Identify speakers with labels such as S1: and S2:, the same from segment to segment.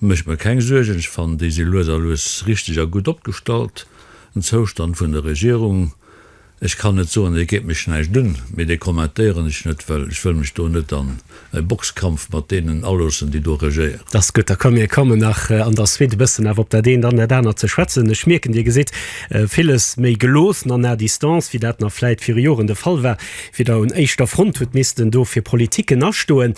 S1: Méch mer keng Suergen, ech fannen déi si lues a lues richteg a gutt opgestallt. Den Zoustand vun der Regierung, ech kann net soen, dee geet mech näischt un, mee dee kommentéieren ech net, well ech wëll mech do net an e Boxkampf mat deenen aloossen, déi do regéieren. Ass gutt, da ka mir
S2: kommen nach an der Suite e bëssen awer op dat eent an dat anert ze schwätzen. Ech mierken, Dir gesitt villes méi geloossen an à distance, wéi dat nach vläit viru Joren de Fall war. Fir der un éischter Front huet missten do fir Politiken astoen.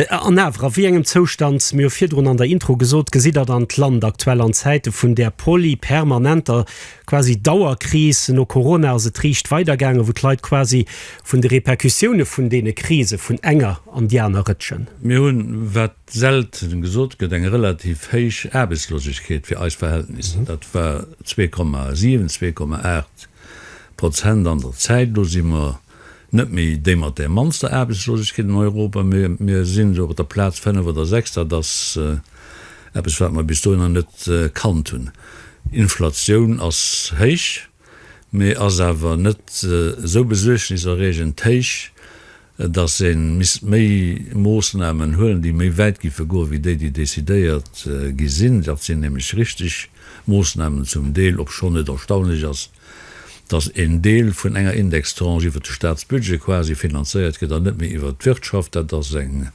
S2: An awer, a wéi engem Zoustand, mir hu virdrun an der Intro gesot, gesitt Der dann d'Land aktuell an Zäite vun där polypermanenter quasi Dauerkris? No Corona ass et riicht weidergaangen, wou d'Leit quasi vun de Repercussioune vun deene Krise vun enger an déi aner rëtschen. Mir hunn, wat
S1: selten gesot gëtt, eng relativ héich Aarbechtslosegkeet fir eis Verhältnisser. Dat war zwee Komma sieben, zwee Komma aacht Prozent an der Zäit. Elo si mer net méi déi mat där mannster Aarbechtslosegkeet an Europa, mee mir sinn esou op der Plaz fënnef oder sechs. Dat ass eppes, wat mer bis dohinner net kannt hunn. Inflatioun ass héich, mee ass awer net esou besuergniserreegend héich, dass ee misst méi Moossnamen huelen, déi méi wäit géife goen, wéi déi, déi decidéiert gi sinn. Dat sinn nämlech richteg Moossnamen zum Deel, obschonn et erstaunlech ass, dass een Deel vun enger Indextranche iwwert de Staatsbudget quasi finanzéiert gëtt an net méi iwwert d'Wirtschaft. Dat ass eng,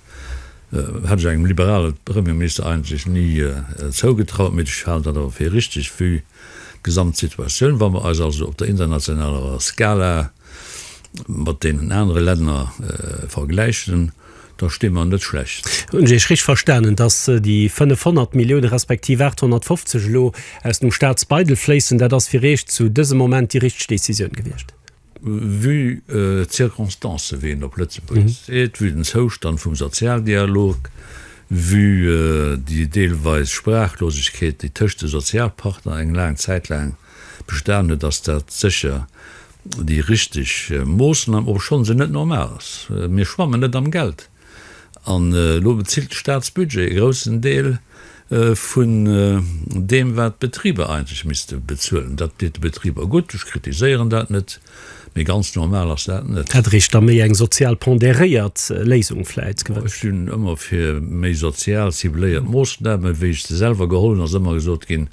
S1: hätt ech engem liberale Premierminister eigentlech ni zougetraut, mee ech halen dat awer fir richtig vue d'Gesamtsituatioun. Wa mer eis also op der internationaler Skala mat deenen anere Länner vergläichen, da sti mer net schlecht. Hunn ech Iech richteg verstanen,
S2: datt déi 500 Millioune respektiv 850 elo aus dem Staatsbeidel fléissen? Dat ass fir Iech zu dësem Moment déi richteg Decisioun gewiescht? Vue
S1: d'Circonstancen, wéi een op Lëtzebuergesch seet, vue den Zoustand vum Sozialdialog, vue déi deelweis Sprachlosegkeet, déi tëscht de Sozialpartner eng laang Zäit laang bestan huet, ass dat sécher déi richteg Moossnam, obschonn se net normal ass, mir schwammen net am Geld an elo bezilt de Staatsbudget e groussen Deel vun deem wat d'Betriber eigentlech misste bezuelen. Dat deet de Betriber gutt, ech kritiséieren dat net, mee ganz normal ass dat net. Hätt Richter méi
S2: eng sozial pondéréiert Léisung vläit gewënscht? Ech sinn ëmmer fir
S1: méi sozial cibléiert Moossnamen. Wéi ech se selwer geholl hunn, ass ëmmer gesot ginn,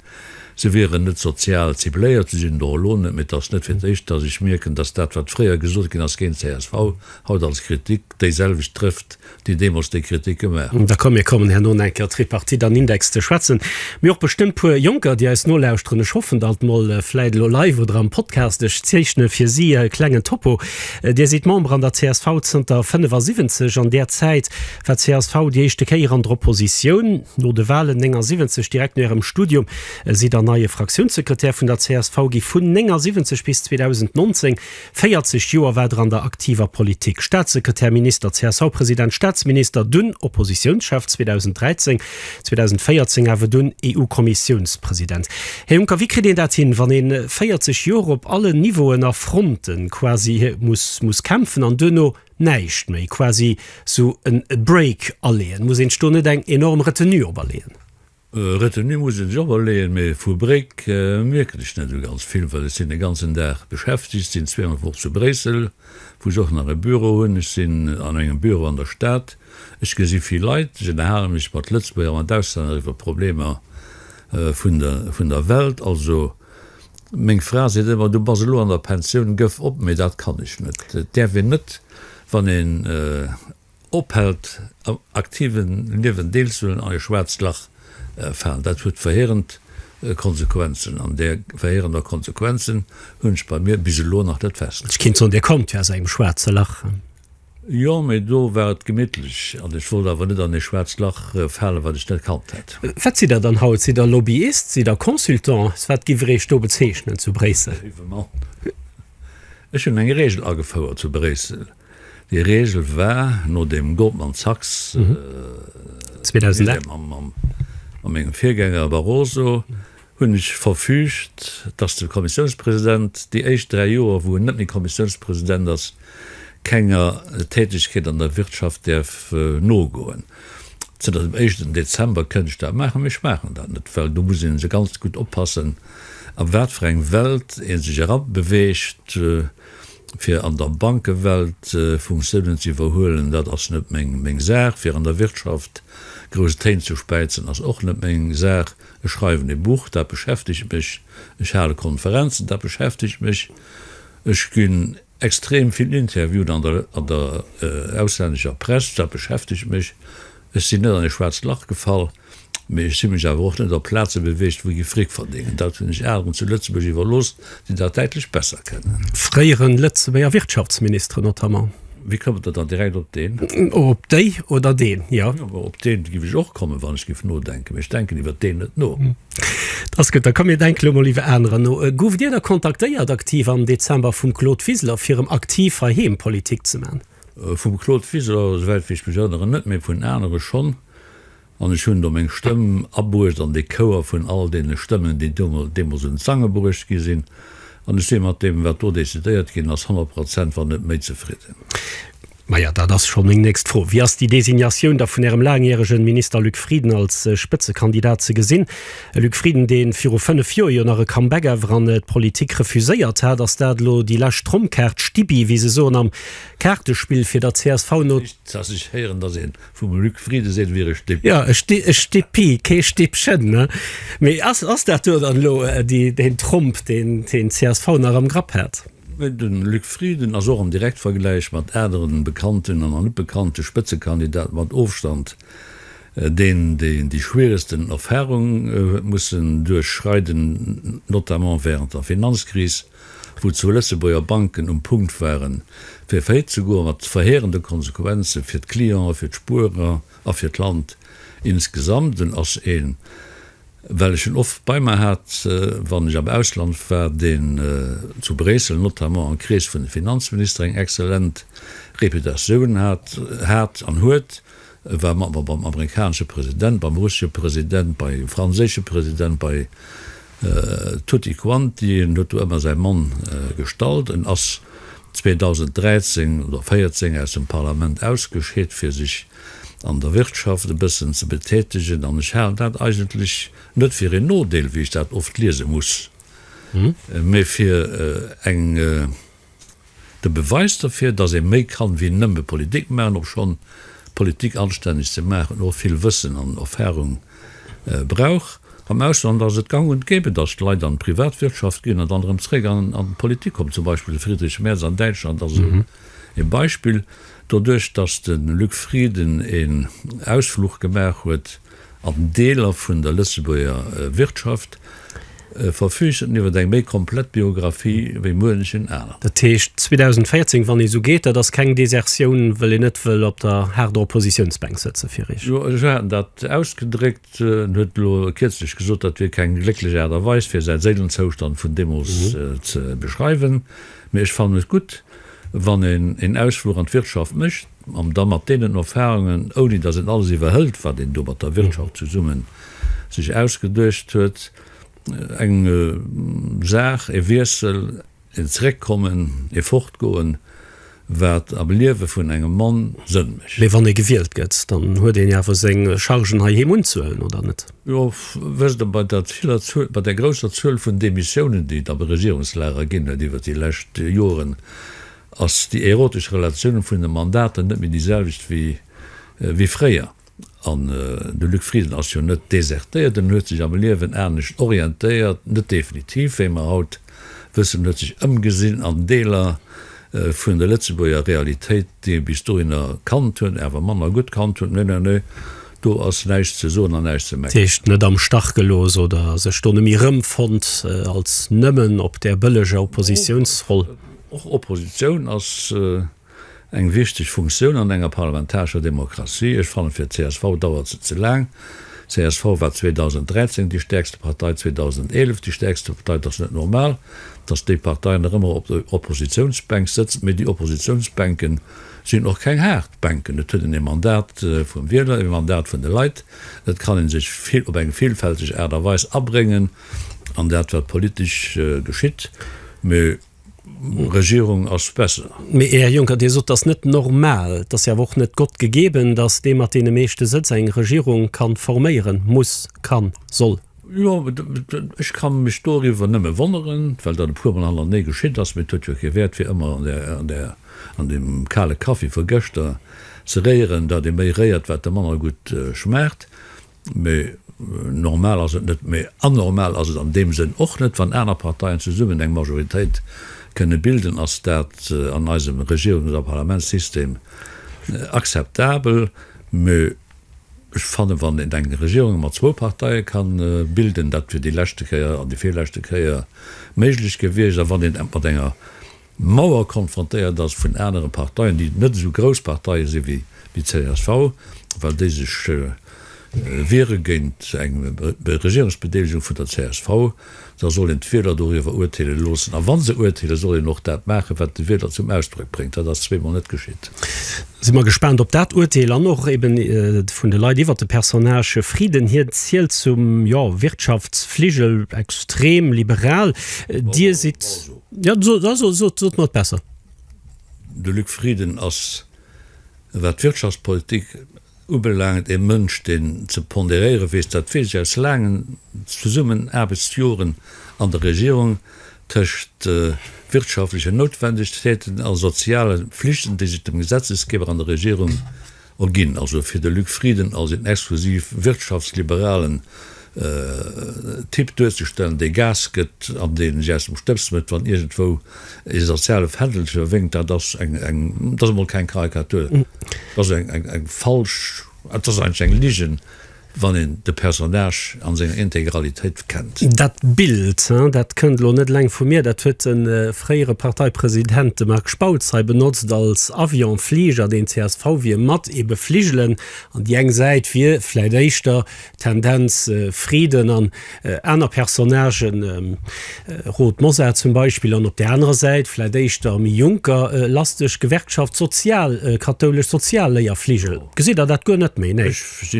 S1: Se wieren net sozial cibléiert, se sinn et och elo net, mee et ass net fir d'éischt, datt ech mierken, datt dat, wat fréier gesot ginn ass géint csv, haut als Kritik déiselwecht trëfft, déi deemools déi Kritik gemaach hunn. D'accord, mir kommen herno
S2: nach eng Kéier op d'Tripartite an Index ze schwätzen, mee och bestëmmt puer Jonker, déi eis nolauschteren. Ech hoffen alt mol, vläit elo live oder am Podcast, ech zeechne fir si e klengen Topo. Dir sidd Member an der csv zënter 75, an där Zäit War d'CSV déi éischte Kéier an der Oppositioun? No de Walen 79 direkt no Ärem Studium sidd Der neie Fraktiounssekretär vun der csv gi. Vun 79 bis 2019, 40 Joer, war Der an der aktiver Politik, Staatssekretär, Minister, CSV-President, Staatsminister, dunn Oppositiounschef 2013, 2014 awer dunn EU-Kommissiounspresident. Här Juncker, wéi kritt een dat hin, wann ee 40 Joer op allen Niveauen a Fronten quasi muss muss kämpfen an duerno Näischt méi, quasi sou en Break aleeën. Muss een sech do net eng enorm Retenue op aleeën? Retenue
S1: muss ee sech op aleeën, mee vu Break mierken ech net sou ganz vill, well ech sinn de ganzen Dag beschäftegt, sinn zwee an der Woch zu Bréissel, wou ech och nach e Büro hunn, ech sinn an engem Büro an der Stad, ech gesi vill Leit, ech ënnerhale mech mat Lëtzebuerger, mat Auslänner iwwer Problemer vun der Welt. Also Meng Fra seet ëmmer, du bass elo an der Pensioun, gëff op, mee dat kann ech net. Et däerf een net, wann een ophält am aktive Liewen deelzehuelen, an e schwaarzt Lach falen. Dat huet verheerend Konsequenzen, an där verheerender Konsequenzen hunn ech bei mir bis elo nach net festgestallt. Ech kéint soen, Dir kommt jo aus
S2: engem schwaarze Lach. Jo, mee
S1: do war et gemittlech an ech wollt awer net an ee schwaarzt Lach falen, wat ech net kannt hätt. Wat sidd Der dann haut?
S2: Sidd Der Lobbyist? Sidd Der Consultant? Wat giff Der Iech do bezeechnen zu Bréissel? Léiwe Mann,
S1: ech hunn eng Regel agefouert zu Bréissel. Déi Regel war, nodeem Goldman Sachs, mam
S2: mengem
S1: Virgänger Barroso, hunn ech verfügt, dass de Kommissiounspresident déi éischt dräi Joer, wou en net méi Kommissiounspresident ass, kenger Tätigkeet an der Wirtschaft däerf nogoen. Zënter dem éischten Dezember kënnt ech dat maachen, mee ech maachen dat net, well do muss ee ganz gutt oppassen, a wat fir eng Welt ee sech erabeweegt, fir an der Bankewelt Funktiounen ze iwwerhuelen, dat ass net meng Saach, fir an der Wirtschaft grouss Téin ze späizen, ass och net meng Saach. Ech schreiwen e Buch, dat beschäftegt mech. Ech hale Konferenzen, dat beschäftegt mech. Ech ginn extrem vill interviewt an der an der auslännescher Press, dat beschäftegt mech. Ech sinn net an e schwaarzt Lach gefall, mee ech hu mech awer och net op Plaze beweegt, wou gi Fric verdéngen. Dat hunn ech Alen zu Lëtzebuerg iwwerlooss, déi dat däitlech besser kennen. Fréieren Lëtzebuerger
S2: Wirtschaftsministeren notamment. Wéi kommt Der dann
S1: direkt op deen? Op déi
S2: oder deen, jo. Op deen giff ech
S1: och kommen, wann ech giff nodenken, mee ech denken iwwer deen net no. Dat ass gutt,
S2: da komm mir denke lo mol iwwer anerer no. Gouft Dir da kontaktéiert, aktiv am Dezember, vum Claude Wiseler fir erëm aktiv heiheem Politik ze man? Vum Claude
S1: Wiseler, souwäit wéi ech mech erënneren, net, mee vun anere schonn. An ech hunn do meng Stëmm abruecht an dee Chouer vun all deene Stëmmen, déi deemools un d'Sange bruecht gi sinn. An ech si mat deem, wat do decidéiert ginn ass, honnert Prozent, wann net méi, zefridden. Maja,
S2: dat ass scho meng nächst Fro. Wéi ass déi Designatioun da vun Ärem laangjäregen Minister Luc Frieden als Spëtzekandidat ze gesinn? E Luc Frieden, dee viru fënnef Joer jo nach e Comeback ewer an d'Politik refuséiert hat. Ass dat elo déi lescht Trompkaart, Stibbi, wéi se soen am Kaartespill, fir der csv no? Iech, dass ech héieren, dass
S1: een Vum Luc Frieden seet wier e Stipp. Jo, e Sti, e
S2: Stippi, kee Stippchen, ne? Mee ass, ass dat do dann elo déi, deen Tromp, deen deen csv nach am Grapp hat? Mee de Luc
S1: Frieden ass och am Direktvergläich mat aneren bekannten an an net bekannte Spëtzekandidaten mat Ofstand deen, deen déi schwieregsten Erfahrung huet mussen duerchschreiden, notamment während der Finanzkris. wou zwou Lëtzebuerger Banken um Punkt waren, fir faillite ze goen, mat verheerende Konsequenzen fir d'Clienten, fir d'Spuerer a fir d'Land insgesamt. En ass een, well ech en oft bei mer hat, wann ech am Ausland war, deen zu Bréissel, notamment am Krees vun de Finanzministere, eng exzellent Reputatioun hat an huet. E war mat mer beim amerikanesche President, beim russesche President, bei franséische President, bei tutti quanti. En huet do ëmmer säi Mann gestallt. En ass 2013 oder 14 aus dem Parlament ausgescheet, fir sech an der Wirtschaft e bëssen ze betätegen. An ech halen dat eigentlech net fir een Nodeel, wéi ech dat oft liese muss, mee fir eng. De Beweis derfir, dass ee méi kann wéi nëmme Politik maachen, obschonn Politik anstänneg ze maachen och vill Wëssen an Erfahrung brauch. Am Ausland ass et gang und gäbe, dass d'Leit an d'Privatwirtschaft ginn an dann erëm zeréck an d'Politik kommen. Zum Beispill de Friedrich Merz an Däitschland ass esou ee Beispill. Doduerch, dass de Luc Frieden een Ausfluch gemaach huet, An Deeler vun der Lëtzebuerger Wirtschaft verfüügt en iwwer eng méi komplett Biographie wéi muenchen aneren. Dat heescht 2014,
S2: wann ee sou geet, dat ass keng Desertioun, well een net wëll op der haarder Oppositiounsbänk sëtze fir Eech? Jo, esou hat en dat
S1: ausgedréckt. En huet elo kierzlech gesot, dat wier keng glécklech Aart a Weis, fir säi Séilenzoustand vun deemools ze beschreiwen. Mee ech fannen et gutt, wann een een Ausfluch an d'Wirtschaft mécht. An da mat deenen Erfahrungen, ouni dass een alles iwwerhëlt, wat een do mat der Wirtschaft zesummen sech ausgeduecht huet, eng Saach, e Wiessel, een Zeréckkommen, e Fortgoen, wat am Liewe vun engem Mann Sënn mécht. Mee wann ee gewielt gëtt,
S2: dann huet een jo awer seng Chargen heiheem unzehuelen, oder net? Jo, wësst
S1: Der, bei der viller Zuel, bei der grousser Zuel vun Demissiounen, déi et am Regierungslager ginn huet iwwert déi lescht Joren, ass déi erotesch Relatioun vun de Mandaten net méi déi selwecht wéi fréier. An de Luc Frieden ass jo net desertéiert, en huet sech am Liewen anescht orientéiert, net definitiv, wéi mer haut wëssen. En huet sech ëmgesinn an Deeler vun der Lëtzebuerger Realitéit, déi e bis dohinner kannt huet, awer manner gutt kannt huet. Nö, nö, nö, do ass näischt ze soen an näischt ze meckeren. Dat heescht, net am Stach
S2: gelooss oder sech do net méi erëmfonnt als nëmmen op där bëlleger Oppositiounsroll? Och
S1: Oppositioun ass eng wichteg Funktioun an enger parlamentarescher Demokratie. Ech fannen, fir csv dauert se ze laang. Csv war 2013 déi stäerkste Partei, 2011 déi stäerkste Partei. Et ass net normal, datt déi Partei nach ëmmer op der Oppositiounsbänk sëtzt. Mee déi Oppositiounsbänken sinn och keng haart Bänken. Et huet een e Mandat vum Wieler, e Mandat vun de Leit. Et kann ee sech vill op eng villfälteg Aart a Weis abréngen an dat, wat politesch geschitt. Mee Regierung ass besser. Mee, Här Juncker, Dir sot,
S2: et ass net normal, et ass jo awer och net Gott gegeben, datt dee mat deene meeschte Sëtz eng Regierung ka forméieren, muss, kann, soll. Jo,
S1: ech ka mech doriwwer nëmme wonneren, well dat e puermol hannertenee geschitt ass. Mee et huet jo kee Wäert, fir ëmmer an deem kale Kaffi vu gëschter ze réieren, dat ee méi réiert, wat de manner gutt schmaacht. Mä normal ass et net, mä anormal ass et an deem Sënn och net, wann aner Parteien zesummen eng Majoritéit kënne bilden. Ass dat an eisem Regierungs a Parlamentssystem akzeptabel? Mä ech fannen, wann een eng Regierung mat zwou Parteie ka bilden, dat wier déi leschte Kéier an déi virleschte Kéier méiglech gewiescht, a wann een et mat enger Mauer konfrontéiert ass vun anere Parteien, déi net esou grouss Parteie si wéi déi csv, well déi sech wiere géint eng Regierungsbedeelegung vun der csv. Da soll een d'Wieler doriwwer urteele loossen. A wa se urteelen, soll een och dat maachen, wat de Wieler zum Ausdrock bréngt. Dat ass zweemol net geschitt. Si mer gespaant
S2: op dat Urteel an och eben vun de Leit iwwer de Personnage Frieden. Hien zielt zum, jo, Wirtschaftsfligel, extrem liberal. Dir sidd. Jo, so, da so, sot, sot mer et besser. De
S1: Luc Frieden ass, wat d'Wirtschaftspolitik ubelaangt, ee Mënsch, deen ze ponderéiere weess. Dat weess ech aus laangen Zesummenaarbechtsjoren an der Regierung, tëscht wirtschaftlechen Noutwendegkeeten a soziale Flichten, déi sech dem Gesetzesgeber an der Regierung Er ginn also fir de Luc Frieden als een exklusiv wirtschaftsliberalen Typ duerzestellen, dee Gas gëtt an dee sech aus dem Stëbs mécht, wann iergendwou ee soziale Fändelche wénkt, dat ass eng, dat ass emol keng Karikatur, dat ass eng falsch, dat ass eigentlech eng Ligen, Wann een de Personnage an senger Integralitéit kennt. Dat Bild,
S2: dat kënnt elo net eleng vu mir, dat huet de fréiere Parteipresident, de Marc Spautz, hei benotzt als Avion, Fliger, deen csv wier mat ee befligelen. An déi eng Säit wier vläit éischter Tendenz Friden an. Aner Personnagen, Rod Mosar zum Beispill, an op där anerer Säit, vläit éischter méi jonker, lasteg, Gewerkschaft sozial, kathoulesch Sozialléierfligel. Gesitt Der dat guer net méi? Nee,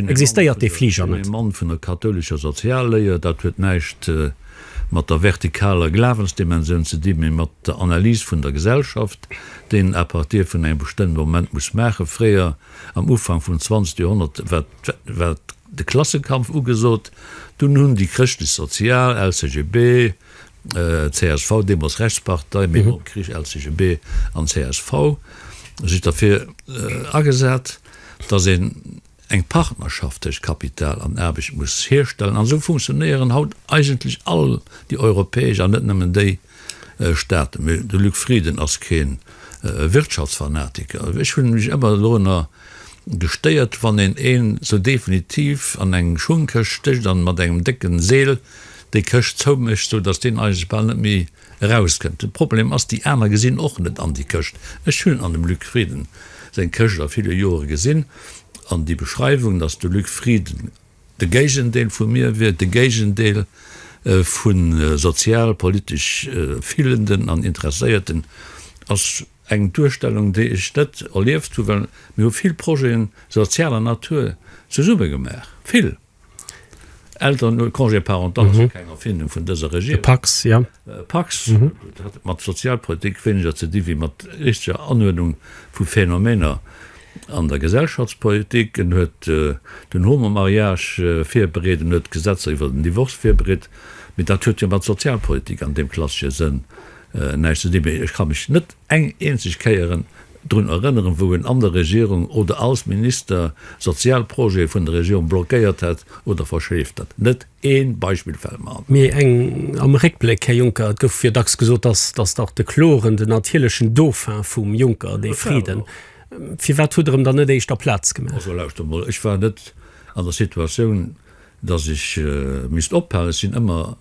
S2: existéiert dee Fliger net. Ech sinn e Mann vun der kathoulescher
S1: Sozialléier. Dat huet näischt mat der vertikaler Glawensdimensioun ze dinn, mee mat der Analys vun der Gesellschaft, déi een à partir vun engem bestëmmte Moment muss maachen. Fréier, am Ufank vum zwanzegste Joerhonnert, war de Klassenkampf ugesot, dunn hunn déi Chrëschtlech-Sozial, LCGB, csv, deemols Rechtspartei, mee nom Krich LCGB an csv, sech derfir agesat, datt een eng Partnerschaft tëscht Kapital an Aarbecht muss hierstellen. An esou funktionéieren haut eigentlech all déi europäesch, an net nëmmen déi, Staaten. Mee de Luc Frieden ass kee Wirtschaftsfanatiker. Ech hunn mech ëmmer doranner gestéiert, wann een een sou definitiv an eng Schungkëscht stécht an mat engem décken Seel déi Këscht zoumécht, sou datt deen eigentlech bal net méi erauskënnt. De Problem ass, déi aner gesinn och net an déi Këscht. Ech hunn an dem Luc Frieden seng Këscht a ville Jore gesinn an déi Beschreiwung, datt de Luc Frieden De Géigendeel vu mir wier de Géigendeel vu sozial, politesch filenden an interesséierten, ass eng Duerstellung, déi ech net erlieft hu, well mir hu vill Projeten sozialer Natur zesumme gemaach, vill. Eltern, Congé parental ass jo keng Erfindung vun dëser Regierung.
S2: Pax, dat
S1: hat mat Sozialpolitik wéineger ze di wéi mat richteger Anuerdnung vu Phänomener an der Gesellschaftspolitik. En huet den Homo-Mariage virbereet, en huet Gesetzer iwwer den Divorce virbereet, mee dat huet jo mat Sozialpolitik an deem klassesche Sënn näischt ze di. Mee ech ka mech net eng eenzeg Kéier drun erënneren, wou en an der Regierung oder als Minister Sozialprojete vun der Regierung blockéiert hätt oder verschleeft hätt. Net! Ee Beispill fält mer an. Mee eng am
S2: Réckbléck, Här Juncker, et gouf jo dacks gesot, dass dass dach de Kloren den natierlechen Dauphin vum Juncker, dee Friden. Firwat hutt Der em dann net éischter Plaz gemaach? Also lauschtert emol, ech war net
S1: an der Situatioun, dass ech misst ophalen. Ech sinn ëmmer.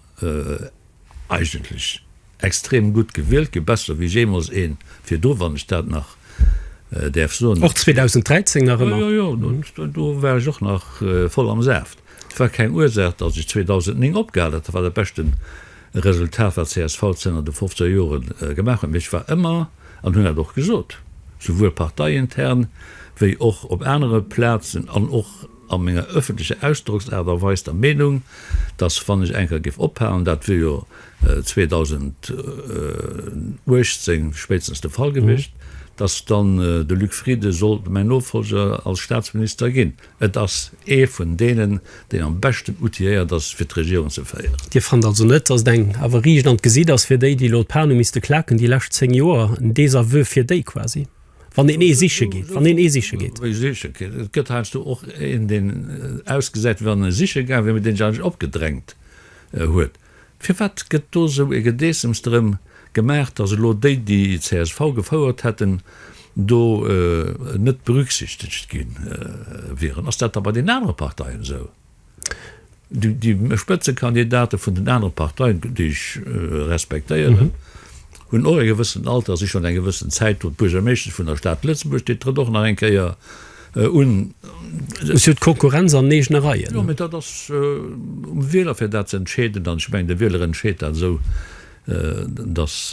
S1: Eigentlech extrem gutt gewielt ginn, besser wéi jeemools een virdru, wann ech dat nach däerf soen. Och 2013
S2: nach ëmmer? Jo, jo,
S1: jo, do war ech och nach voll am Saaft. Et war keng Ursaach, datt ech 2009 opgehal hat. Dat war dat beschte Resultat, wat csv zënner de 15 Jore gemaach huet. Mee ech war ëmmer, an hunn dat och gesot, souwuel parteiintern wéi och op anere Plazen an och a menger ëffentlecher Ausdrocksaart a Weis der Meenung, datt wann ech eng Kéier géif ophalen, dat wier jo 2018 spéitstens de Fall gewiescht, datt dann de Luc Frieden sollt mäin Nofollger als Staatsminister ginn. Et ass ee vun deenen, deen am beschten outilléiert ass, fir d'Regierung ze féieren. Dir fannt also net, datt
S2: et eng awer riicht an d'Gesitt ass fir déi, déi elo d'Pane misste klaken déi lescht zéng Joer, en Désaveu fir déi quasi? Wann een ee siche geet, wann een ee siche geet. Wéi siche geet? Et gëtt
S1: heiansdo och een, deen ausgesäit, wéi wann e siche gaang wier, mee deen sech eigentlech opgedrängt huet. Firwat gëtt do esou e Gedeessems drëm gemaach, datt elo déi, déi csv gefouert hätten, do net berücksichtegt gi wieren? Ass dat da bei den anere Parteien esou? Déi Spëtzekandidate vun den anere Parteien, déi ech respektéieren, hunn och e gewëssent Alter, si schonn eng gewëssen Zäit do. D'Buergermeeschtesch vun der Stad Lëtzebuerg, déi trëtt och nach eng Kéier un. Si
S2: huet Konkurrenz an eegene Reien. Jo, mä dat ass
S1: um Wieler fir dat ze entscheeden. An ech mengen, de Wieler entscheet dat esou, datt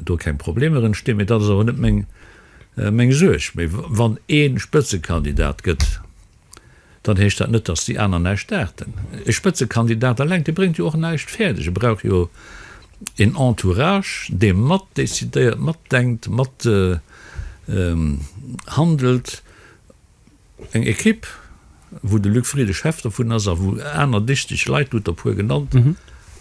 S1: do keng Problemer entstinn. Mä dat ass awer net meng Suerg. Mä wann ee Spëtzekandidat gëtt. dann heescht dat net, dass déi aner näischt dachten. E Spëtzekandidat eleng, dee bréngt jo och näischt fäerdeg. E brauch jo een Entourage, dee mat decidéiert, mat denkt, mat handelt. Eng Ekipp, wou de Luc Frieden Chef dovun ass a wou aner dichteg Leit, du hutt der e puer genannt,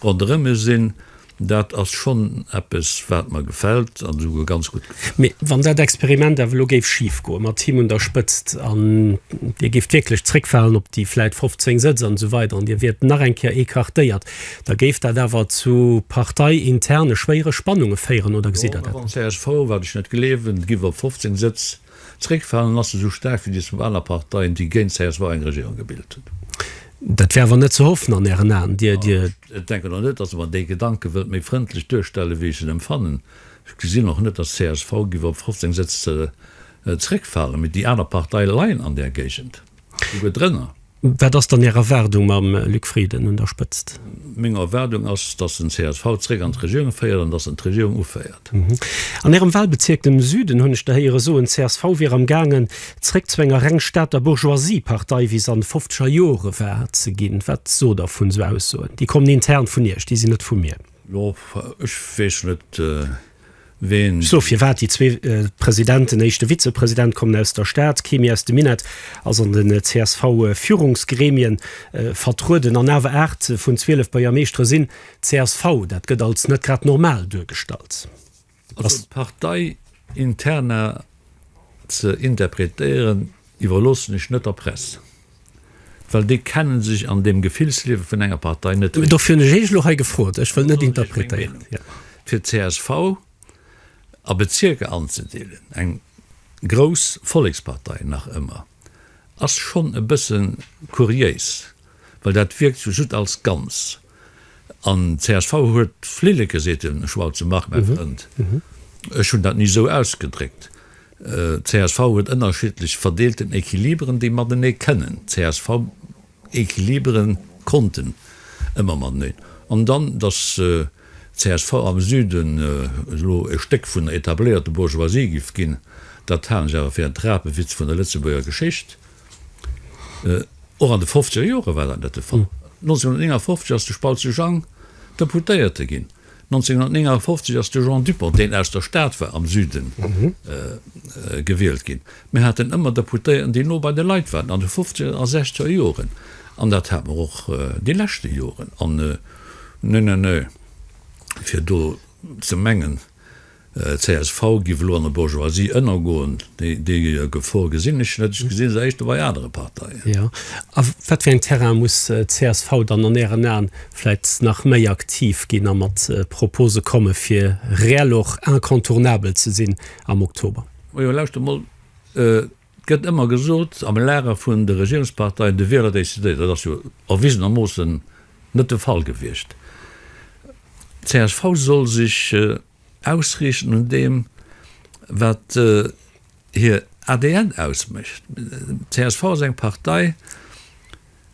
S1: ronderëm e sinn. Dat ass schonn eppes, wat mer gefält an esouguer ganz gutt gefält. Mee wann dat
S2: Experiment awer elo géif schif goen, mat him un der Spëtzt, an Dir géift wierklech zréckfalen op déi vläit 15 Sëtz an esou weider an Dir wiert nach eng Kéier écartéiert, da géif dat awer zu parteiinterne schwéiere Spannunge féieren, oder gesitt Der dat net esou? Jo, mä beim csv, wat ech
S1: net gleewen, giff op 15 Sëtz Zréckfalen ass esou staark wéi déi zwou aner Parteien, déi géint csv eng Regierung gebilt hunn. Dat wär
S2: awer net ze hoffen an Ären Aen? Dir. Ech denken och
S1: net, datt Der mer déi Gedanke wëllt méi frëndlech duerstellen, wéi ech en emfannen. Ech gesinn och net, datt csv géif op 15 Sëtz zréckfalen. Mee déi aner Partei leien an där Géigend, souguer drënner. Wat ass dann
S2: Är Erwaardung mam Luc Frieden un der Spëtzt? Meng Erwaardung
S1: ass, datt den csv zréck an d'Regierung féiert an datt en d'Regierung uféiert. An Ärem
S2: Wahlbezierk, dem Süden, hunn ech der héiere soen, csv wier am gaangen zréck zu enger reng Stater Bourgeoisie-Partei, wéi se an de fofzeger Jore war, ze ginn. Wat sot Der vun esou Aussoen? Déi kommen intern vun Iech, déi sinn net vu mir. Jo, ech
S1: weess net.
S2: Sou, firwat déi zwee Presidenten, éischte Vizepresident kommen aus der Stad, kee méi aus dem Minett, ass an den CSV-Führungsgremien vertrueden an awer 8 vun 12 Buergermeeschtere sinn csv. Dat gëtt als net grad normal duergestallt. Also
S1: d'Partei-Interna ze interpretéieren, iwwerloossen ech net der Press. Well déi kennen sech an deem Gefillsliewe vun enger Partei net eré. Dofir hunn ech Iech elo hei
S2: gefrot. Ech wëll net interpretéieren, jo. Fir
S1: csv a Bezierker anzedeelen, eng grouss Vollekspartei nach ëmmer, ass schonn e bësse kuriéis, well dat wierkt sou just als Ganzt. An csv huet Flilleke, seet den Schwalbs, Marc, mäi Frënd, ech hunn dat ni esou ausgedréckt. Csv huet ënnerschiddlech verdeelten Equiliberen, déi matenee kënnen. Csv Equilibere konnten ëmmer mateneen. An dann, datt csv am Süden elo e Stéck vun der etabléierte Bourgeoisie giff ginn, dat halen ech awer fir en Trapewitz vun der Lëtzebuerger Geschicht. Och an de fofzeger Jore war dat net de Fall. 1959 ass de Spautze Jang Deputéierte ginn. 1959 ass de Jean Dupong, deen aus der Stad war, am Süden, gewielt ginn. Mir haten ëmmer Deputéierten, déi no bei de Leit waren, an de fofzeger a sechzeger Joren. An dat hat mer och déi leschte Joren. An, nö, nö, nö, fir do ze mengen, csv giff elo an der Bourgeoisie ënnergoen. Déi Gefor gesinn ech net. Ech gesinn se éischter bei anere Parteien. Jo, a
S2: wat fir een Terrain muss csv dann an Ären Aen vläit nach méi aktiv ginn a mat Propose komme fir reell och incontournabel ze sinn am Oktober? Majo, lauschtert mol.
S1: Et gëtt ëmmer gesot am Lager vun de Regierungsparteien, de Wieler decidéiert. Dat ass jo erwisenermoossen net de Fall gewiescht. Csv soll sech ausriichten un deem, wat hir ADN ausmécht. Csv ass eng Partei,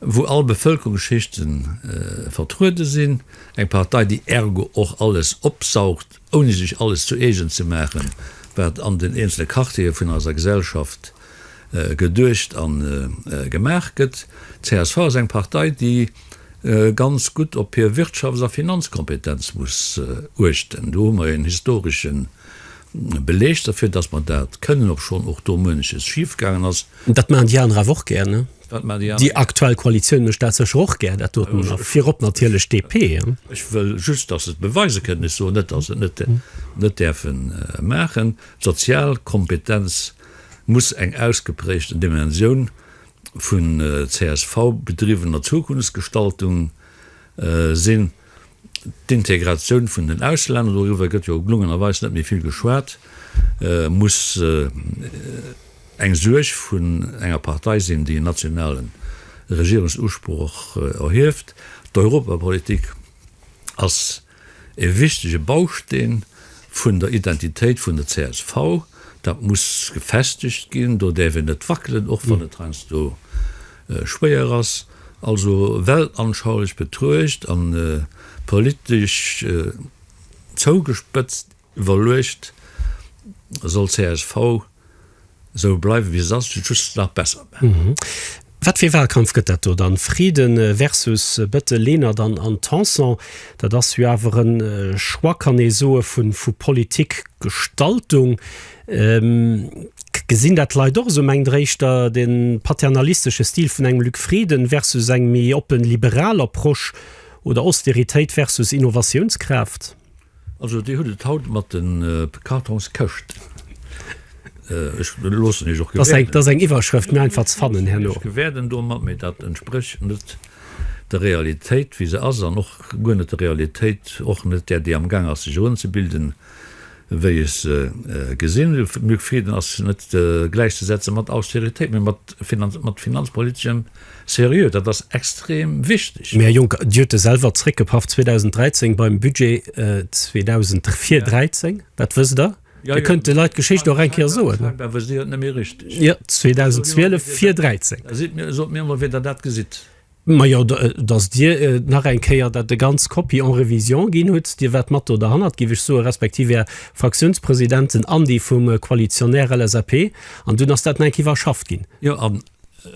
S1: wou all Bevëlkerungsschichten vertruede sinn, eng Partei, déi ergo och alles opsaugt, ouni sech alles zu eegen ze maachen, wat an den eenzele Quartiere vun eiser Gesellschaft geduecht a gemaach gëtt. D'CSV ass eng Partei, déi ganz gutt op hir Wirtschafts a Finanzkompetenz muss uechten. Do hu mer en historesche Beleg derfir, dass mer dat kënnen, obschonn och do muenches schif gaangen ass. Dat maachen déi aner awer
S2: och gär, ne? Déi aktuell Koalitioun mécht dat sécher och gär, dat doten, a virop natierlech d'DP. Ech wëll just, dass
S1: se et beweise kënnen. Ech soen net, dass se et net däerfe maachen. D'sozial Kompetenz muss eng ausgeprägten Dimensioun vun csv-bedriwwener Zukunftsgestaltung sinn. D'Integratioun vun den Auslänner, doriwwer gëtt jo glungenerweis net méi vill geschwat, muss eng Suerg vun enger Partei sinn, déi en nationale Regierungsusproch erhieft. D'Europapolitik ass e wichtege Bausteen vun der Identitéit vun der csv. Dat muss gefestegt ginn, do däerf een net wackelen, och wann et heiansdo, Schwéier ass, also weltanschaulich betruecht an politesch zougespëtzt iwwerluecht, soll csv sou bleiwen wéi se ass, just nach besser maachen. Wat
S2: fir ee Wahlkampf gëtt dat do dann? Frieden versus bëtte Lenert an an Tanson, dat ass jo awer en Choix, kann ee soe, vu Politikgestaltung. K, Gesinn dat d'Leit och esou? Mengt Der éischter de paternalistesche Stil vun engem Luc Frieden versus eng méi oppen, liberal Approche oder Austeritéit versus Innovatiounskraaft? Also
S1: Dir hutt et haut mat de Kartonskëscht. Ech
S2: loossen Iech och gewäerden. Dat ass eng Iwwerschrëft, méi einfach ze fannen herno. Ech gewäerden domat,
S1: mee dat entsprécht net der Realitéit, wéi se ass, an och guer net der Realitéit, och net där, déi am gaang ass sech erëmzebilden, wéi ech se gesinn, Luc Frieden, ass net gläichzesetzen mat Austeritéit, mä mat finanzpoliteschem Seriö. Dat ass extrem wichteg. Mä, Här Juncker, Dir hutt e
S2: selwer zréckgepaff 2013 beim Budget 2013, dat wësst Der. Dir kënnt de Leit d'Geschicht och eng Kéier soen. Scheinbar wësst Dir et net méi richteg. Jo, 2012 fir 2013. Da sot mir emol, wéi Der
S1: dat gesitt. Majo,
S2: dass Dir nach eng Kéier dat de ganz Kopie en révision ginn hutt, Dir waart mat do derhannert, géif ech soen, respektiv Är Fraktiounspresidenten an déi vum Koalitionär LSAP, an dunn ass dat nach enk iwwerschafft ginn. Jo, an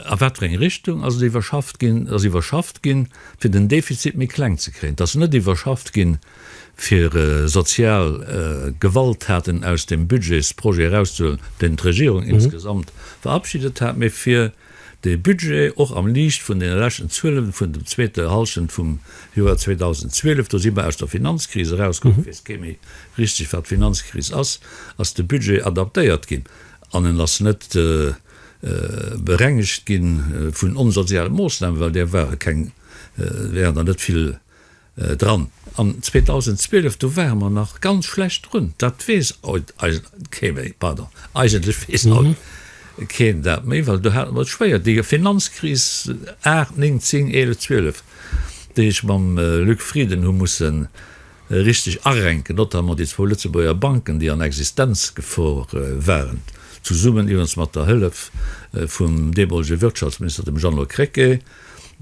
S1: a wat fir eng Richtung ass et iwwerschafft ginn? Et ass iwwerschafft ginn, fir den Defizit méi kleng ze kréien. Et ass net iwwerschafft ginn, fir sozial Gewalttaten aus dem Budgetsprojet erauszehuelen, deen d'Regierung insgesamt verabschiedet hat, mä fir De Budget, och am Liicht vun deene leschten Zuelen vun dem zweete Hallschent vum Joer 2012, do si mer aus der Finanzkris erauskomm, et weess kee méi richteg wat Finanzkris ass, ass de Budget adaptéiert ginn an en ass net berengegt gi vun onsoziale Moossnamen, well där ware keng, wären der net vill. dran. An 2012, do ware mer nach ganz schlecht drun, dat weess haut eigentlech kee méi, pardon, eigentlech weess haut keen dat méi, well do hate mer et schwéier, déi Finanzkris 8, 9, 10, 11, 12, déi ech mam Luc Frieden hu mussen richteg arenken, notamment déi zwou Lëtzebuerger Banken, déi an Existenzgefor waren, zesummen iwwerens mat der Hëllef vum deemolege Wirtschaftsminister, dem Jeannot Krecké.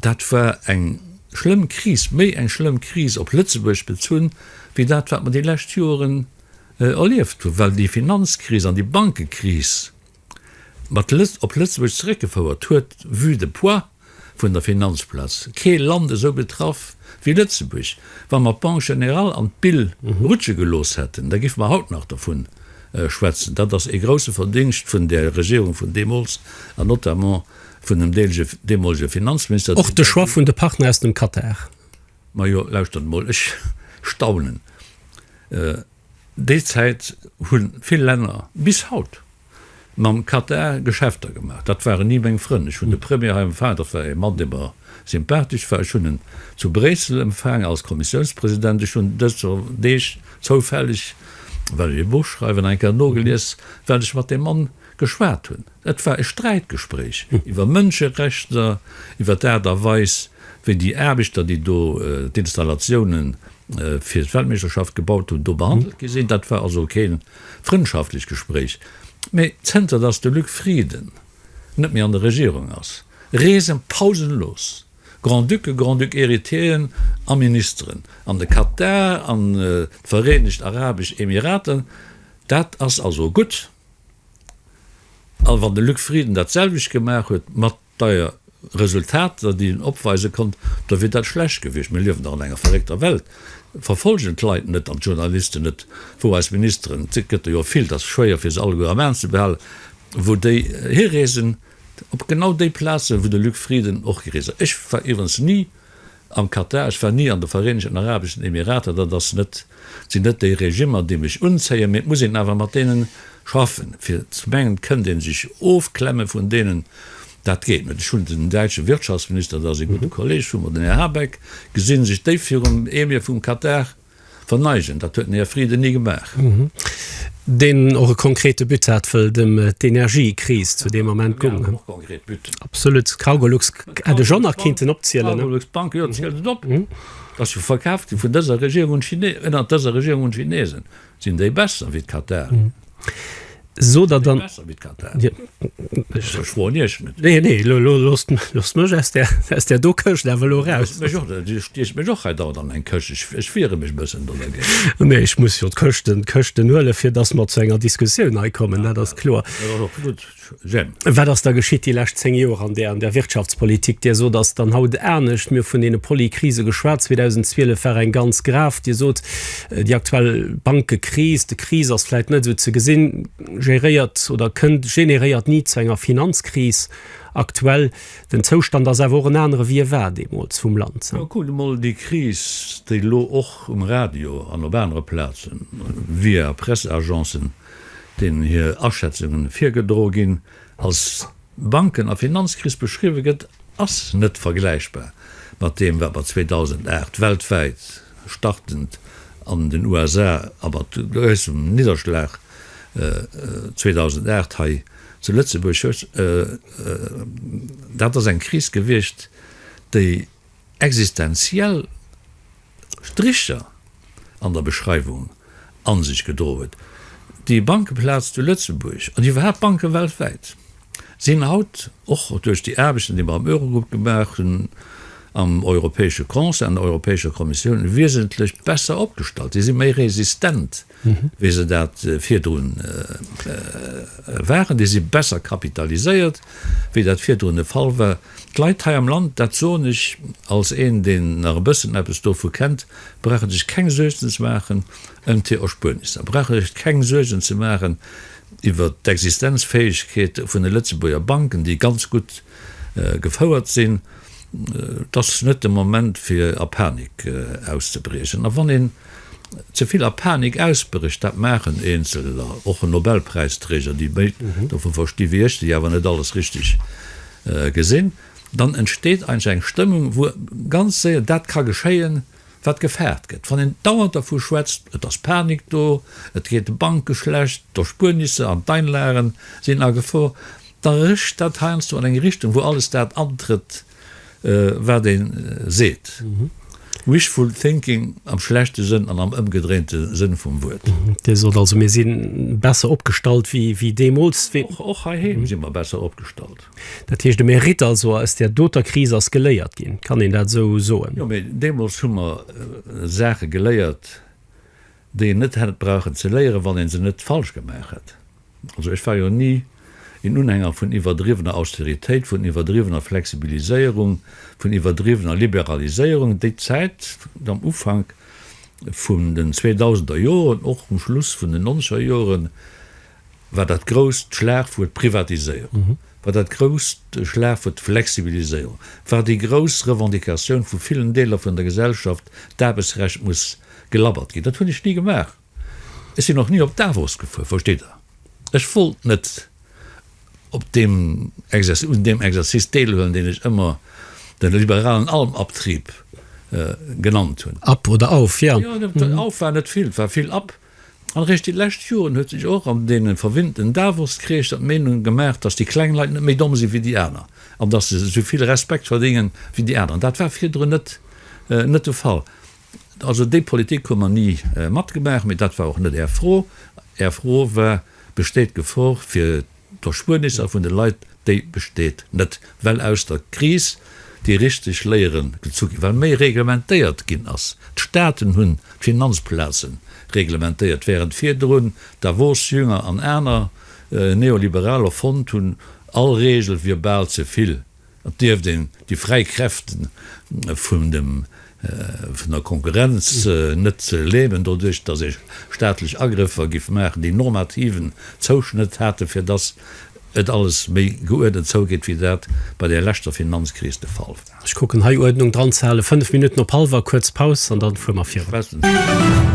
S1: Dat war eng schlëmm Kris, méi eng schlëmm Kris op Lëtzebuerg bezunn, wéi dat wat mer déi lescht Joren erlieft hunn, well déi Finanzkris an déi Bankekris mat op Lëtzebuerg zeréckgefouert huet vue de poids vun der Finanzplaz. Kee Land esou betraff wéi Lëtzebuerg. Wa mer d'Banque générale an d'BIL rutsche gelooss hätten, da géife mer haut nach dovun schwätzen. Dat ass ee grousse Verdingscht vun der Regierung vun deemools an notamment Vun dem deemolege Finanzminister. Och de Choix vun de
S2: Partner aus dem Katar. Majo, lauschtert
S1: emol, ech staunen. Déi Zäit hu vill Länner bis haut mam Katar Geschäfter gemaach. Dat waren ni meng Frënn. Ech hunn de Premier hei empfaangen, dat war ee Mann, dee mer sympathesch war. Ech hunn en zu Bréissel empfaangen als Kommissiounspresident. Ech hunn dëser Deeg zoufälleg, well ech ee Buch schreiwen, eng Kéier nogelies, wat ech mat deem Mann Geschwat hunn. Et war e Sträitgespréich iwwer Mënscherechter, iwwer d'Aart a Weis, wéi déi Aarbechter, déi do d'Installatioune fir d'Weltmeeschterschaft gebaut hunn, do behandelt gi sinn. Dat war also kee frëndschaftlecht Gespréich. Mee zënter datt de Luc Frieden net méi an der Regierung ass, reesen pausenlos Grand-Ducke, Grand-Duc héritier'en a Ministeren an de Katar, an d'Vereenegt Arabesch Emirater. Dat ass also gutt. A wann de Luc Frieden dat selwecht gemaach huet, mat deier Resultater, déi en opweise konnt, da wier dat schlecht gewiescht. Mir liewen dach an enger verréckter Welt. Verfollgen d'Leit net an d'Journalisten net, wou eis Ministeren, et gëtt der jo vill, et ass schwéier, fir se alleguer am Aen ze behalen, wou déi hireesen, op genau déi Plazen, wou de Luc Frieden och gereest ass. Ech war iwwerens ni Am Katar, ech war ni an de Vereenegten Arabeschen Emirater, dat ass net, sinn net déi Regimmer, déi mech unzéien, mee et muss een awer mat deene schaffen. Fir ze mengen, kënnt ee sech ofklemme vun deenen, dat geet net. Ech hunn den däitsche Wirtschaftsminister, dat ass ee gudde Kolleeg vu mer, den Här Habeck, gesinn, sech déif virum Emir vum Katar, Verneigen, dat huet den Här Frieden ni gemaach.
S2: Deen och e konkrete But hat, wëll et ëm d'Energiekris zu deem Ament goung. Mir haten och konkret Butten. Absolut. Cargolux hätt ech och nach kinnten opzielen. D'Cargolux Bank, jo, zielt et op.
S1: Ass jo verkaaft ginn vun dëser Regierung un d'Chinesen. Ënnert dëser Regierung un d'Chinesen. Sinn déi besser wéi d'Katar?
S2: Sot der dann. Besser wéi Katar. Ech verschwoen Iech net. Nee, nee, elo loosst mech aus där do Këscht awer elo eraus. Du stiechs mech och hei dauernd an eng Këscht. Ech wiere mech e bëssen dodergéint. Nee, ech muss jo d'Këschten huelen, fir datt mer zu enger Diskussioun hei kommen. Dat ass kloer. Dat ass och gutt. Jemp. Wat ass da geschitt déi lescht zéng Joer an där Wirtschaftspolitik? Dir sot, ass dann haut anescht. Mir hu vun deene Poly-Krise geschwat. 2012 war eng ganz grav. Dir sot, Déi aktuell Bankekris, de Kris ass vläit net esou ze gesinn, géréiert oder kënnt, generéiert ni zu enger Finanzkris. Aktuell den Zoustand ass awer och en anere wéi e war deemools vum Land. Ma kuckt emol déi Kris,
S1: déi elo och um Radio an op anere Plazen, via Presseagencen deenen hir Aschätzungen virgedro ginn, als Banken a Finanzkris beschriwwe gëtt, ass net vergläichbar mat deem, wat mer 2008 weltwäit, startend an den USA a mat groussem Nidderschlag 2008 hei zu Lëtzebuerg, dat ass eng Kris gewiescht, déi, existenziell Stricher an der Beschreiwung a sech gedroen huet. Déi Bankeplaz zu Lëtzebuerg an iwwerhaapt d'Banke weltwäit sinn haut, och duerch déi Aarbechten, déi mer am Eurogrupp gemaach hunn, am Europäesche Conseil, an der Europäescher Kommissioun, wiesentlech besser opgestallt. Si si méi resistent wéi se dat virdrun waren. Déi si besser kapitaliséiert, wéi dat virdrun de Fall war. D'Leit hei am Land, dat soen ech als een, deen nach e bëssen eppes dovu kennt, brauche sech keng Suergen ze maachen ëm d'Erspuernisser, brauche sech keng Suergen ze maachen iwwert d'Existenzfäegkeet vun de Lëtzebuerger Banken, déi ganz gutt Gefouert sinn, et ass net de Moment fir a Panik auszebriechen. A wann een ze vill a Panik ausbrécht, dat maachen Eenzeler, och en Nobelpräisträger, déi méi dovu versti wéi ech, déi awer net alles richteg gesinn, dann entsteet eigentlech eng Stëmmung, wou ganz séier dat ka geschéien, wat gefaart gëtt, wann een dauernd dervu schwätzt, et ass Panik do, et geet de Banke schlecht, d'Erspuernisse an d'Einlagen sinn a Gefor, da rëscht dat heiansdo an eng Richtung, wou alles dat antrëtt, wat ee seet. Wishful thinking am schlechte Sënn an am ëmgedréinte Sënn vum Wuert. Dir sot also, mir
S2: si besser opgestallt wéi deemools? Och heiheem si mer
S1: besser opgestallt. Dat heescht, de Mérite
S2: also aus där doter Kris ass geléiert ginn, kann een dat esou soen? Jo, mee deemools
S1: hu mer Saache geléiert, déi een net hätt brauchen ze léieren, wann ee se net falsch gemaach hätt. Also ech war jo ni een Unhänger vun iwwerdriwwener Austeritéit, vun iwwerdriwwener Flexibiliséierung, vun iwwerdriwwener Liberaliséierung. Déi Zäit am Ufank vun den zweedausender Joren, och um Schluss vun den nonzeger Joren, war dat grousst Schlagwuert d'Privatiséierung, war dat grousst Schlagwuert d'Flexibiliséierung, war déi grouss Revendicatioun vu villen Deeler vun der Gesellschaft, d'Aarbechtsrecht muss gelabbert ginn. Dat hunn ech ni gemaach. Ech sinn och ni op Davos gefuer, versteet Der. Ech wollt net op deem Exercice, un deem Exercice deelhuelen, deen ech ëmmer de liberalen Almabtrieb genannt hunn. Ab oder auf,
S2: jo. Jo, auf war net vill,
S1: war vill ab. An eréischt déi lescht Joren huet sech och an deene verwinnten Davos-Kreeschter d'Meenung gemaach, datt déi kleng Leit net méi domm sinn wéi déi aner an datt se esou vill Respekt verdéngen wéi déi aner. Dat war virdrun net net de Fall. Also déi Politik hu mer ni matgemaach, mee dat war och net Är Fro. Är Fro war, Besteet d'Gefor fir D'Erspuernis a vun de Leit, déi besteet net, well aus der Kris déi richteg Léiere gezu ginn, well méi reglementéiert ginn ass. D'Staaten hunn d'Finanzplaze reglementéiert, wärend virdrun Davos, Jünger an aner Neoliberaler fonnt hunn, all Reegel wier bal ze vill. Et dierft een déi fräi Kräfte vun der Konkurrenz net lähmen, doduerch datt ee staatlech Agrëffer géif maachen, déi normativen Zouschnëtt haten, fir datt et alles méi geuerdent zougeet, wéi dat bei der leschter Finanzkris de Fall war. Ech kucken hei Uerdnung
S2: dran ze halen. Fënnef Minutten op hallwer, kuerz Paus an dann fuer mer virun.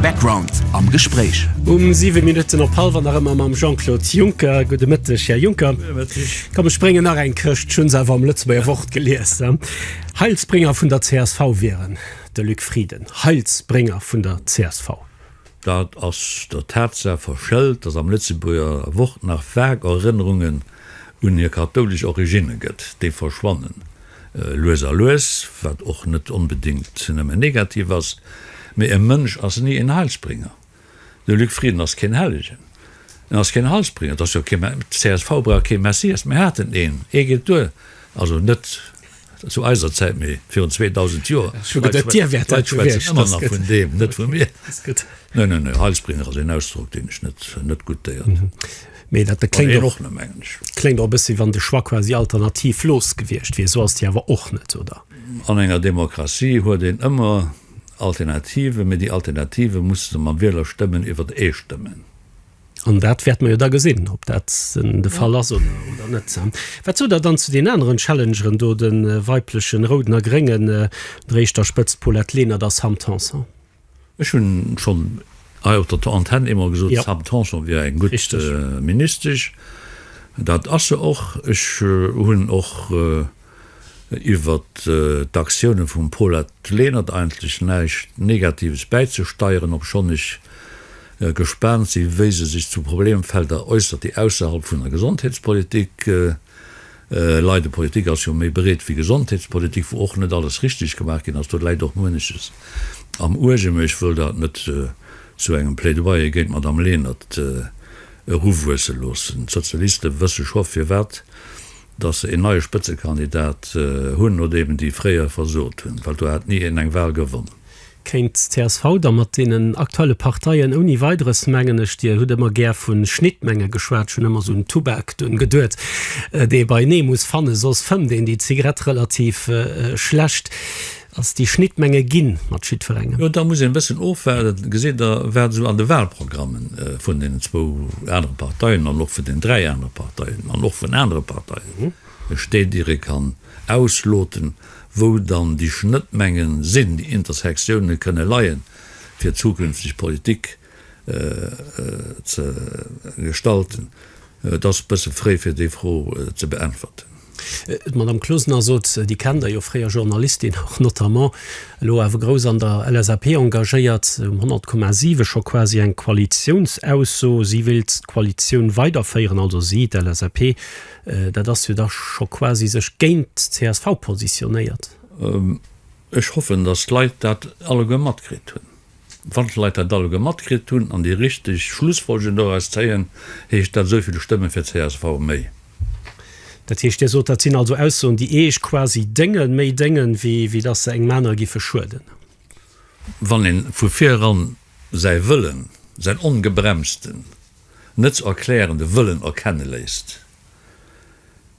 S3: Background am Gespréich. Um siwe Minutten
S2: op hallwer nach ëmmer mam Jean-Claude Juncker. Gudde Mëtteg, Här Juncker. Komm ech bréngen nach eng Këscht, ech hunn se awer am Lëtzebuerger Wort gelies. Heilsbrénger vun der csv wieren, de Luc Frieden, Heilsbrénger vun der csv. Dat
S1: ass der Tatsaach verschëlt, datt am Lëtzebuerger Wort nach vag Erënnerungen un hir kathoulesch Originne gëtt. Déi verschwannen lues a lues, wat och net onbedéngt nëmme negativ ass, mee e Mënsch ass ni en Heilsbrénger. De Luc Frieden ass keen Hellegen, en ass keen Heilsbringer, et ass jo kee Mä, d'CSV brauch kee Messias, mir haten een, ee geet duer, also net zu eiser Zäit, mee virun 2.000 Joer, d'Leit schwätzen ëmmer nach vun deem, net vu mir. Nö, nö, nö, Heilsbringer ass een Ausdrock, deen ech net, net goûtéiert hunn. Mee dat kléngt och,
S2: kléngt och e bëssi, wann de Choix quasi alternativlos gewiescht wier, esou ass déi awer och net, oder? An enger
S1: Demokratie huet een ëmmer. Alternative, mee déi Alternative musse se mam Wieler stëmmen iwwert ee stëmmen. An dat
S2: wäerte mer jo da gesinn, ob dat de Fall ass oder net. Wat sot Der dann zu den aneren Challengeren do, de weiblechen Rouden a Gréngen, der éischter Spëtzt Paulette Lenert a Sam Tanson? Ech hunn
S1: schonn hei op der Antenn eemol gesot, d'Sam Tanson wier eng
S2: gutt
S1: Ministesch. Dat ass se och. Ech hunn och Iwwer d'Aktiounen vum Pol hat d'Lenert eigentlech näischt Negatives bäizesteieren, obschonn ech gespaant sinn, wéi se sech zu Problemfelder äussert, déi ausserhalb vun der Gesondheetspolitik leiden. Politik ass jo méi breet wéi Gesondheetspolitik, wou och net alles richteg gemaach ginn ass. Do läit och mueneches am Uerge, mee ech wëll dat net zu engem Plädoyer géint d'Madame Lenert eruwuesse loossen. D'Sozialiste wësse scho, firwat dass se een neie Spëtzekandidat hunn oder eben déi fréier versot hunn, well do hat ni een eng Wal gewonn. Kéint csv
S2: da mat deenen aktuelle Parteien ouni Weideres, mengen ech, Dir hutt ëmmer gär vu Schnittmenge geschwat, ech hunn ëmmer esou un Tubak dunn geduet, dee beienee muss fannen, soss fëmmt een déi Zigarett relativ schlecht. Ass déi Schnittmenge ginn mat jiddwerengem? Jo, da muss een e bëssen
S1: ofwaarden. Gesitt Der, wat esou an de Wahlprogramme vun deenen zwou anere Parteien an och vun den dräi anere Parteien an och vun anere Parteien steet, ier ee kann ausloten, wou dann déi Schnëttmenge sinn, déi Intersektioune kënne leien, fir zukünfteg Politik ze gestalten. Et ass e bësse fréi fir déi Fro ze beäntwerten. D'Madame
S2: Closener sot, déi kennt Der jo, fréier Journalistin och notamment, elo awer grouss an der LSAP engagéiert, um 100,7 scho quasi eng Koalitiounsausso, si wéilt d'Koalitioun weiderféieren, also si, d'LSAP, dat ass jo da scho quasi sech géint csv positionéiert.
S1: Ech hoffen, datt d'Leit dat alleguer matkritt hunn. Wann d'Leit dat alleguer matkritt hunn an déi richteg Schlussfolgerungen doraus zéien, heescht dat esou vill Stëmme fir csv méi. Dat
S2: heescht, Dir sot, dat sinn also Aussoen, déi Eech quasi déngen, méi déngen, wéi datt se engem anere giffe schueden?
S1: Wann ee vu vir eran säi Wëllen, säin ongebremsten, net ze erklärende Wëllen erkenne léisst,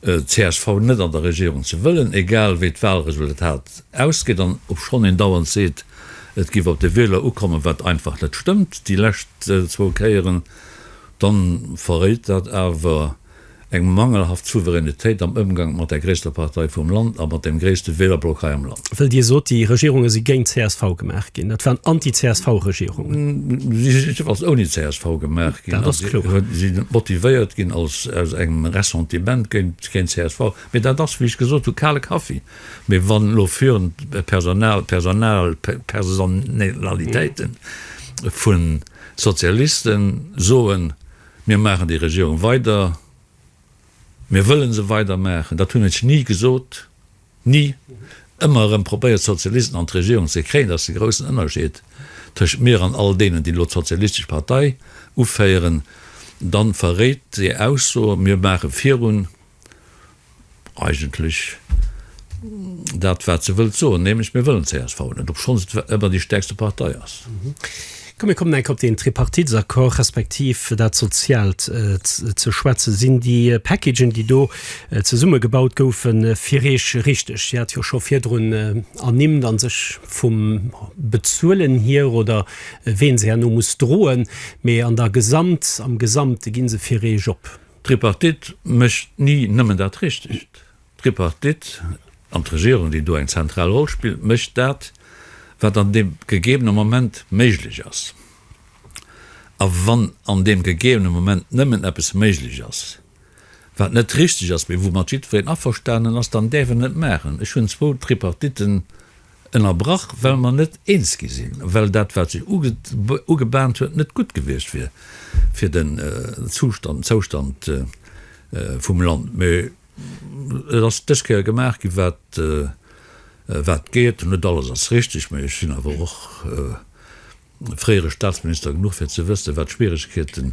S1: csv net an der Regierung ze wëllen, egal wéi d'Wahlresultat ausgeet, an obschonn een dauernd seet, et géif op de Wieler ukommen, wat einfach net stëmmt, déi lescht zwou Kéieren, dann verréit dat awer, Eng mangelhaft Souveränitéit am Ëmgank mat der gréisster Partei vum Land a mat dem gréisste Wählerblock hei am Land. Well Dir sot, déi Regierunge
S2: si géint csv gemaach ginn. Dat waren Anti-CSV-Regierungen. Si sinn jiddefalls
S1: ouni csv gemaach ginn. Dat ass kloer. Si sinn net motivéiert ginn aus engem Ressentiment géint csv. Mee dat ass, wéi ech gesot hunn, kale Kaffi. Mee wann elo führend Personal, Personal, Personalitéiten vu Sozialisten soen, Mir maachen déi Regierung weider, mir wëlle se weider maachen, dat hunn ech ni gesot, ni! Ëmmer erëm probéiert d'Sozialisten an d'Regierung ze kréien, dat ass de groussen Ënnerscheed tëschent mir an all deenen, déi elo d'sozialistesch Partei uféieren. Da verréit déi Ausso, mir maache virun. eigentlech dat, wat se wëllt soen, nämlech, Mir wëllen d'CSV net, obschonns et ëmmer déi stärkste Partei ass. Komm, mir
S2: kommen eng Kéier op deen Tripartitsaccord, respektiv dat Soziaalt ze schwätzen. Sinn déi Packagen, déi do zesummegebaut goufen, fir Iech richtig? Dir hat jo scho virdrun ernimmt, a sech vum Bezuelen hier oder ween se herno muss droen, mee an der Gesamt, am Gesamte gi se fir Iech op? D'Tripartite
S1: mécht ni nëmmen dat Richtegt. D'Tripartite, an d'Regierung, déi do eng zentral Roll spillt, mécht dat, wat an deem gegebene Moment méiglech ass. A wann an deem gegebene Moment nëmmen eppes méiglech ass, wat net richteg ass, mee woumat jiddwereen averstanen ass, dann däerf en et maachen. Ech hunn zwou Tripartiten. Ënnerbrach, well mer net eens gi sinn, well dat, wat sech ugebahnt huet, net gutt gewiescht wier fir den Zoustand vum Land. Mee et ass dës Kéier gemaach ginn, wat geet. Net alles ass richteg, mee ech sinn awer och. fréiere Staatsminister genuch fir ze wëssen, wat d'Schwieregkeete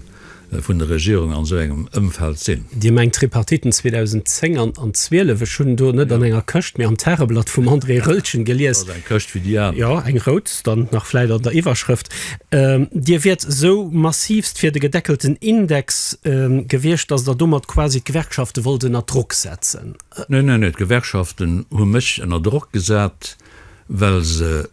S1: vun der Regierung an esou engem Ëmfeld sinn. Dir mengt d'Tripartiten
S2: 2010 an 2012? Ech hunn do net an enger Këscht, mee am Tageblatt vum André Roeltgen gelies. Ass eng Këscht wéi déi aner. Jo,
S1: eng rout
S2: dann nach vläit an der Iwwerschrëft. Dir wiert esou massivst fir de gedeckelten Index gewiescht, datt Der domat quasi d'Gewerkschafte wollt ënner Drock setzen? Neen, neen, neen,
S1: d'Gewerkschaften hu mech ënner Drock gesat. well se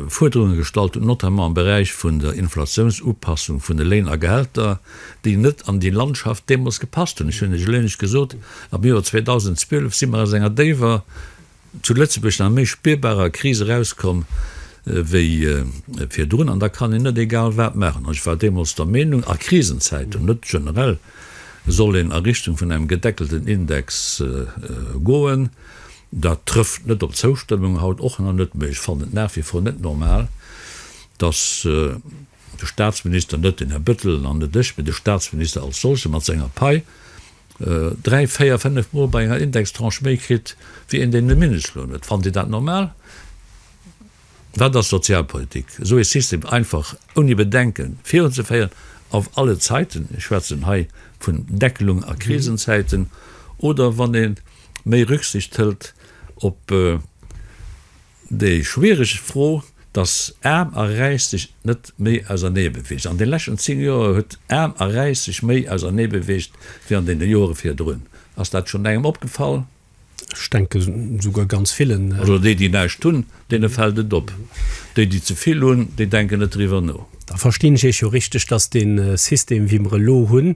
S1: Fuerderunge gestallt hunn, notamment am Beräich vun der Inflatiounsupassung vun de Léin a Gehälter, déi net an déi Landschaft deemools gepasst hunn. Ech hunn Iech eleng Iech gesot, Am Joer 2012 si mer aus enger déiwer, zu Lëtzebuerg nach méi spierbarer Kris erauskomm wéi virdrun. An da kann een net egal wat maachen. An ech war deemools der Meenung, a Krisenzäiten, net generell, soll een a Richtung vun engem gedeckelten Index goen. Dat trëfft net op d'Zoustëmmung haut och nach net, mee ech fannen et nach wie vor net normal, dass de Statsminister, net den Här Bettel an net ech, mee de Statsminister als solche mat senger Pai dräi, véier, fénnef Mol bei enger Indextranche méi kritt wéi een, deen de Mindestloun huet. Fannt Dir dat normal? Wat ass Sozialpolitik? Esou ee System einfach ouni Bedenken virunzeféieren auf alle Zeiten, ech schwätzen hei vun Deckelung a Krisenzäiten, oder wann ee méi Rücksicht hëlt op déi schwiereg Fro, dass Aarm a Räich sech net méi ausernee beweegen. An de leschten 10 Joer huet Aarm a Räich sech méi ausernee beweegt wéi an deene Joere virdrun. Ass dat schonn engem opgefall? Ech denke
S2: souguer ganz villen. Also déi, déi näischt hunn,
S1: deene fält et op. Déi, déi ze vill hunn, déi denken net driwwer no. Da verstinn ech Iech jo
S2: richteg, datt dee System, wéi mer e lo hunn,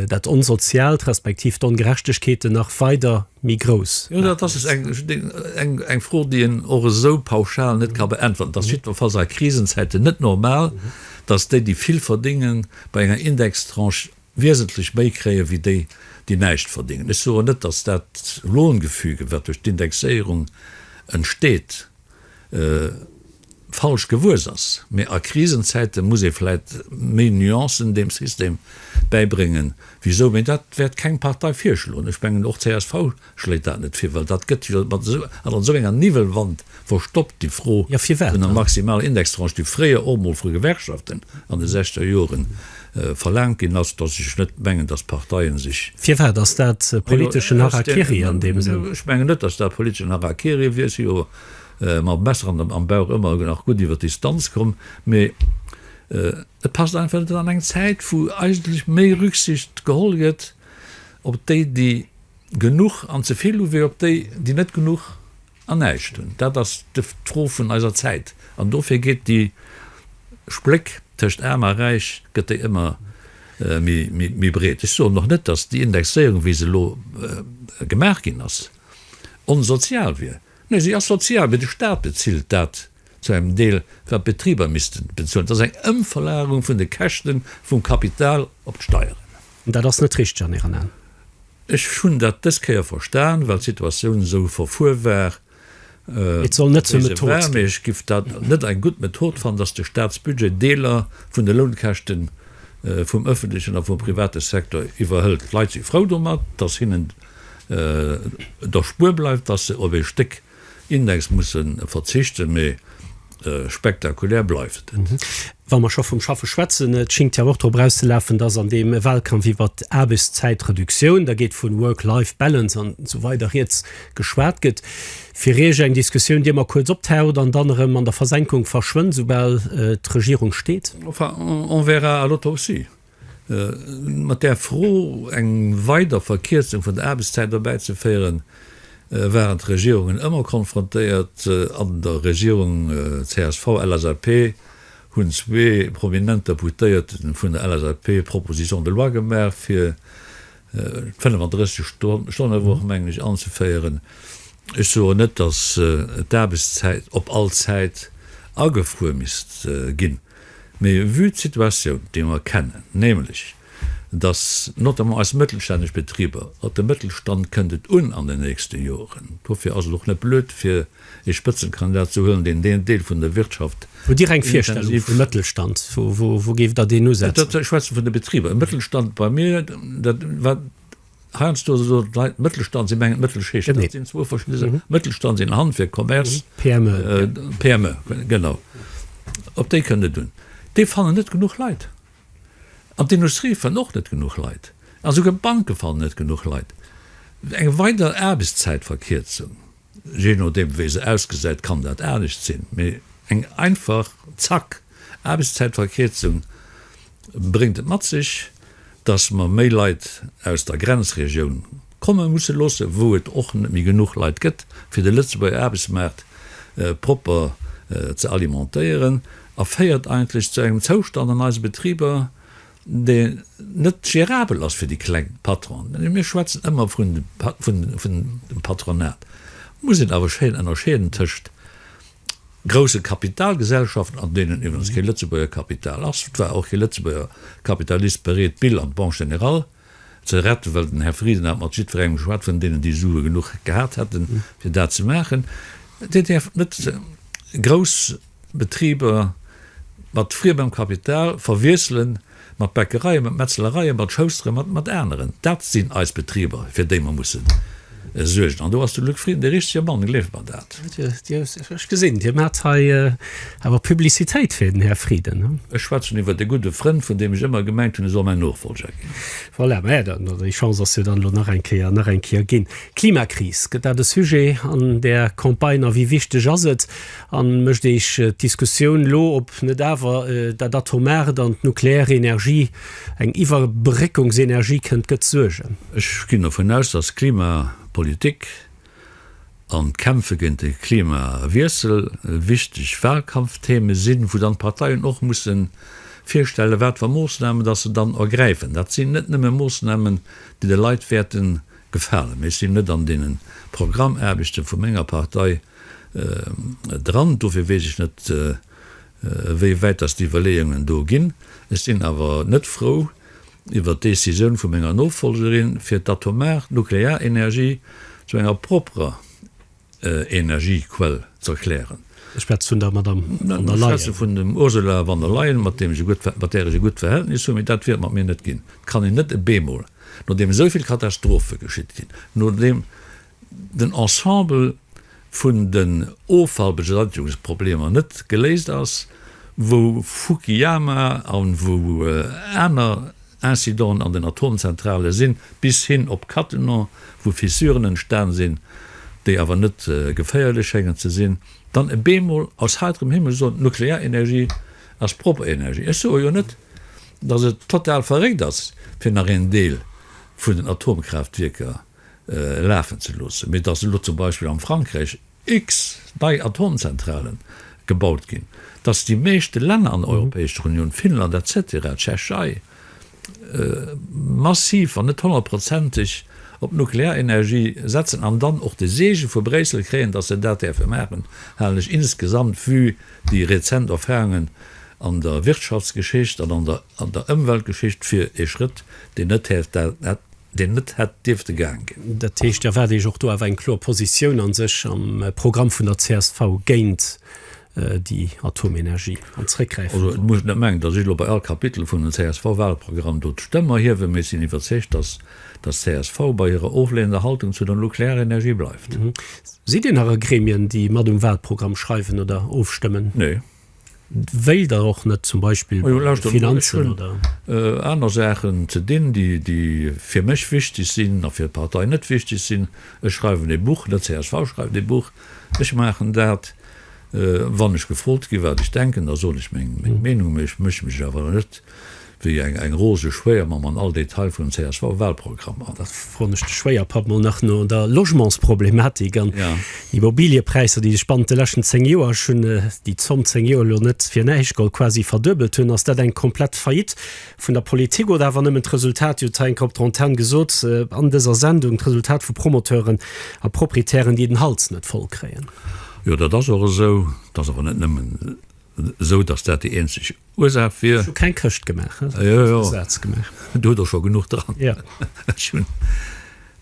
S2: dat Onsoziaalt, respektiv d'Ongerechtegkeeten nach weider méi grouss. Jo, dat ass
S1: eng Fro, déi een och esou pauschal net ka beäntwerten. Et ass jiddwerfalls a Krisenzäiten net normal, datt déi, déi vill verdéngen, bei enger Indextranche wiesentlech méi kréien, wéi déi, déi näischt verdéngen. Ech soen net, datt dat Lohngefüge, wat duerch d'Indexéierung entsteet, falsch gewuess ass, mä a Krisenzäite muss ee vläit méi Nuancen deem System bäibréngen, wisou, mä dat wäert keng Partei virschloen. Ech mengen, och d'CSV Schléit dat net vir, well dat gëtt jo mat esou an esou enger Niwwelwand verstoppt, déi Fro vun der maximaler
S2: Indextranche,
S1: déi fréier och emol vu Gewerkschaften an de sechzeger Jore verlaangt ginn ass, datt ech net mengen, datt d'Parteie sech. Firwat ass dat
S2: politeschen Harakiri an deem Sënn? Ech mengen net, datt dat
S1: politeschen Harakiri wier. Si jo mam Messer am Bauch ëmmer nach gutt iwwer d'Distanz komm. Mee et passt einfach net an eng Zäit, wou eigentlech méi Rücksicht geholl gëtt op déi, déi Genuch an ze vill hu wéi op déi, déi net genuch an näischt hunn. Dat ass d'Fro vun eiser Zäit. An dofir geet déi Spléck tëscht Aarm a Räich, gëtt déi ëmmer méi breet. Ech soen och net, datt déi Indexéierung, wéi se elo gemaach ginn ass, onsozial wier. Nee, si ass sozial, mee de Staat bezilt dat. zu engem Deel grad d'Betriber missten bezuelen. Dat ass eng Ëmverlagerung vun de Käschte vum Kapital op d'Steieren. Dat ass net
S2: richteg an Ären Aen?
S1: Ech hunn dat dës Kéier verstan, well d'Situatioun esou verfuer war. Et
S2: soll net zur Method ginn. Mee ech giff dat
S1: net eng gutt Method fannen, datt de Staatsbudget Deeler vun de Lounkäschte vum öffentlechen a vum private Secteur iwwerhëlt. D'Leit si frou domat, datt hinnen et erspuer bleift, datt se op ee Stéck Index musse verzichten, mee spektakulär bleift et. Wa mer scho
S2: vum Schaffe schwätzen, et schingt jo och drop erauszelafen, dass an deem Wahlkampf iwwert d'Aarbechtszäitreduktioun, da geet vun Work-Life Balance an esou weider rieds, geschwat gëtt. Fir Iech eng Diskussioun, déi ëmmer kuerz optaucht an dann erëm an der Versenkung verschwënnt, esoubal d'Regierung steet? Enfin, on verra
S1: à l'autre aussi. Mat där Fro eng weider Verkierzung vun der Aarbechtszäit erbäizeféieren, waren d'Regierungen ëmmer konfrontéiert. An der Regierung CSV-LSAP hunn zwee prominent Deputéierte vun der LSAP Proposition de loi gemaach, fir d'Fënnef-an-drësseg Stonne-Woch, mengen ech, anzeféieren. Ech soen net, datt d'Aarbechtszäit op all Zäit agefruer misst ginn. Mee vue d'Situatioun, déi mer kennen, nämlech dass notamment eis mëttelstänneg Betriber, op de Mëttelstand kënnt et un an den nächste Joren, dofir ass et och net blöd, fir ee Spëtzenkandidat ze huelen, deen deen Deel vun der Wirtschaft
S2: intensiv. Ech schwätze vun de Betriber.
S1: Mëttelstand bei mir, dat wat Heiansdo ass et esou, datt d'Leit Mëttelstand sinn, mengen Mëttelschicht. Genee. Dat sinn zwou verschidde Saachen. Mëttelstand sinn Handwierk, Commerce, PME. äh, PME, genau. Op déi kënnt et un. Déi fannen net genuch Leit. An d'Industrie fënn och net genuch Leit. A souguer d'Banke fannen net genuch Leit. Eng weider Aarbechtszäitverkierzung, jee nodeem wéi se ausgesäit, kann dat anescht sinn, mee eng einfach, zack, Aarbechtszäitverkierzung, bréngt et mat sech, dass mer méi Leit aus der Grenzregioun komme musse loossen, wou et och net méi genuch Leit gëtt, fir de Lëtzebuerger Aarbechtsmaart propper ze alimentéieren a féiert eigentlech zu engem Zoustand an eise Betriber, dee net gérabel ass fir déi kleng Patronen. Mir schwätzen ëmmer vun dem Patronat, muss een awer schéin ënnerscheeden tëscht grousse Kapitalgesellschaften, an deenen iwwerens kee Lëtzebuerger Kapital ass, et war och kee Lëtzebuerger Kapitalist bereet, d'Bill an d'Banque Générale ze retten, well den Här Frieden hat mat jiddwerengem geschwat vun deenen, déi Sue genuch gehat hätte fir dat ze maachen. Dir däerft net grouss Betriber mat friemem Kapital verwiesselen. mat Bäckereien, mat Metzlereien, mat Schousteren, mat, mat aneren. Dat sinn eis Betriber, fir déi mer mussen suergen. An do ass de Luc Frieden dee richtege Mann, gleeft mer dat. Ech gesinn,
S2: Dir maacht hei awer Publicitéit fir den Här Frieden. Ech schwätzen iwwer e
S1: gudde Frënd, vun deem ech ëmmer gemengt hunn, e soll mäin Nofollger ginn. Voilà, mä dann,
S2: déi Chance ass jo dann elo nach eng Kéier, nach eng Kéier ginn. Klimakris, gëtt dat e Sujet an där Campagne a wéi wichteg ass et, An mécht Eech d'Diskussioun lo, ob net awer dat Atomart an d'nukleär Energie eng Iwwerbréckungsenergie kënnt, gëtt Suergen? Ech ginn dovun
S1: aus, datt d'Klimapolitik an d'Kämpfe géint de Klimawiessel wichteg Wahlkampftheme sinn, wou dann d'Parteien och musse virstellen, wat fir Moossnamen datt se dann ergräifen. Dat sinn net nëmme Moossnamen, déi de Leit wäerte gefalen, mee ech sinn net an deene Programmaarbechte vu menger Partei, dran. Dofir weess ech net, wéi wäit dass déi Iwwerleeungen do ginn. Ech sinn awer net frou iwwert d'Décisioun vu menger Nofolgerin, fir d'atomar Nuklearenergie zu enger propperer Energiequell z'erklären. Ech schwätze vun der Madamm
S2: von der Leyen. Ech schwätze vun dem
S1: Ursula von der Leyen, mat deem ech e gutt, mat där ech e gutt Verhältnis hunn. Mee dat wäert mat mir net ginn. Dat kann een net e beemol, nodeem esou vill Katastrophe geschitt sinn, nodeem den Ensemble vun den Offallbeseitigungs-Problemer net geléist ass, wou Fukiyama a wou aner Incidenten an den Atomzentrale sinn, bis hin op Cattenom, wou Fissuren entstan sinn, déi awer net geféierlech schéngen ze sinn, dann e bemol aus heiterem Himmel soen, d'Nuklearenergie ass propper Energie. Ech soe jo net, dass et total verréckt ass, fir nach een Deel vun den Atomkraaftwierker. lafen ze loossen, mee dass elo zum Beispill am Frankräich X nei Atomzentrale gebaut ginn, dass déi meeschte Länner an der Europäescher Unioun, Finnland et cetera, d'Tschechei, massiv, wann net honnertprozenteg op d'Nuklearenergie setzen an dann och de Seege vu Bréissel kréien, dass se dat däerfe maachen, halen ech insgesamt, vue déi rezent Erfahrungen an der Wirtschaftsgeschicht an an der Ëmweltgeschicht, fir ee Schrëtt, deen net häerf dat deen net hätt dierfte gaang ginn. Dat heescht, Dir erwaart
S2: Iech och do awer eng kloer Positioun a sech am Programm vun der csv géint déi Atomenergie an d'Zréckgräifen drop? Also, et muss et net mengen, datt
S1: ech elo bei all Kapitel vun den CSV-Wahlprogramm do d'Stëmm erhiewen, mee ech sinn iwwerzeegt, datt datt csv bei hirer oflehnender Haltung zu der Nuklearenergie bleift. Sidd Dir nach a
S2: Gremien, déi mat um Wahlprogramm schreiwen oder ofstëmmen? Nee.
S1: Wéilt
S2: Der och net zum Beispill bei de Finanzen oder? Ech hunn aner Saachen
S1: ze dinn, déi fir mech wichteg sinn a fir d'Partei net wichteg sinn. Ech schreiwen e Buch, net csv schreift e Buch. Ech maachen dat, wann ech gefrot ginn, wat ech denken, da soen ech meng Meenung, mee ech méche mech awer net wéi eng eng roseg Schwéiermamm an all Detail vun dem CSV-Wahlprogramm an. Dat froen ech de
S2: Schwéierpapp mol nach no der Logementsproblematik an Immobiliëpräisser, déi sech bannent de leschten 10 Joer, ech hunn déi Zomm 10 Joer elo net fir näischt geholl, quasi verduebelt hunn. Ass dat eng komplett Faillite vun der Politik oder awer nëmmen d'Resultat, Dir hutt et hei eng Kéier op der Antenne gesot an dëser Sendung, d'Resultat vu Promoteuren a Proprietären, déi den Hals net voll kréien? Jo, dat ass
S1: och esou. Dat ass awer net nëmmen Esou dass dat déi eenzeg Ursaach wier. Ech hu keng Këscht gemaach,
S2: ech hu just e Saz gemaach.
S1: Do hutt Der scho genuch dran. Ech hunn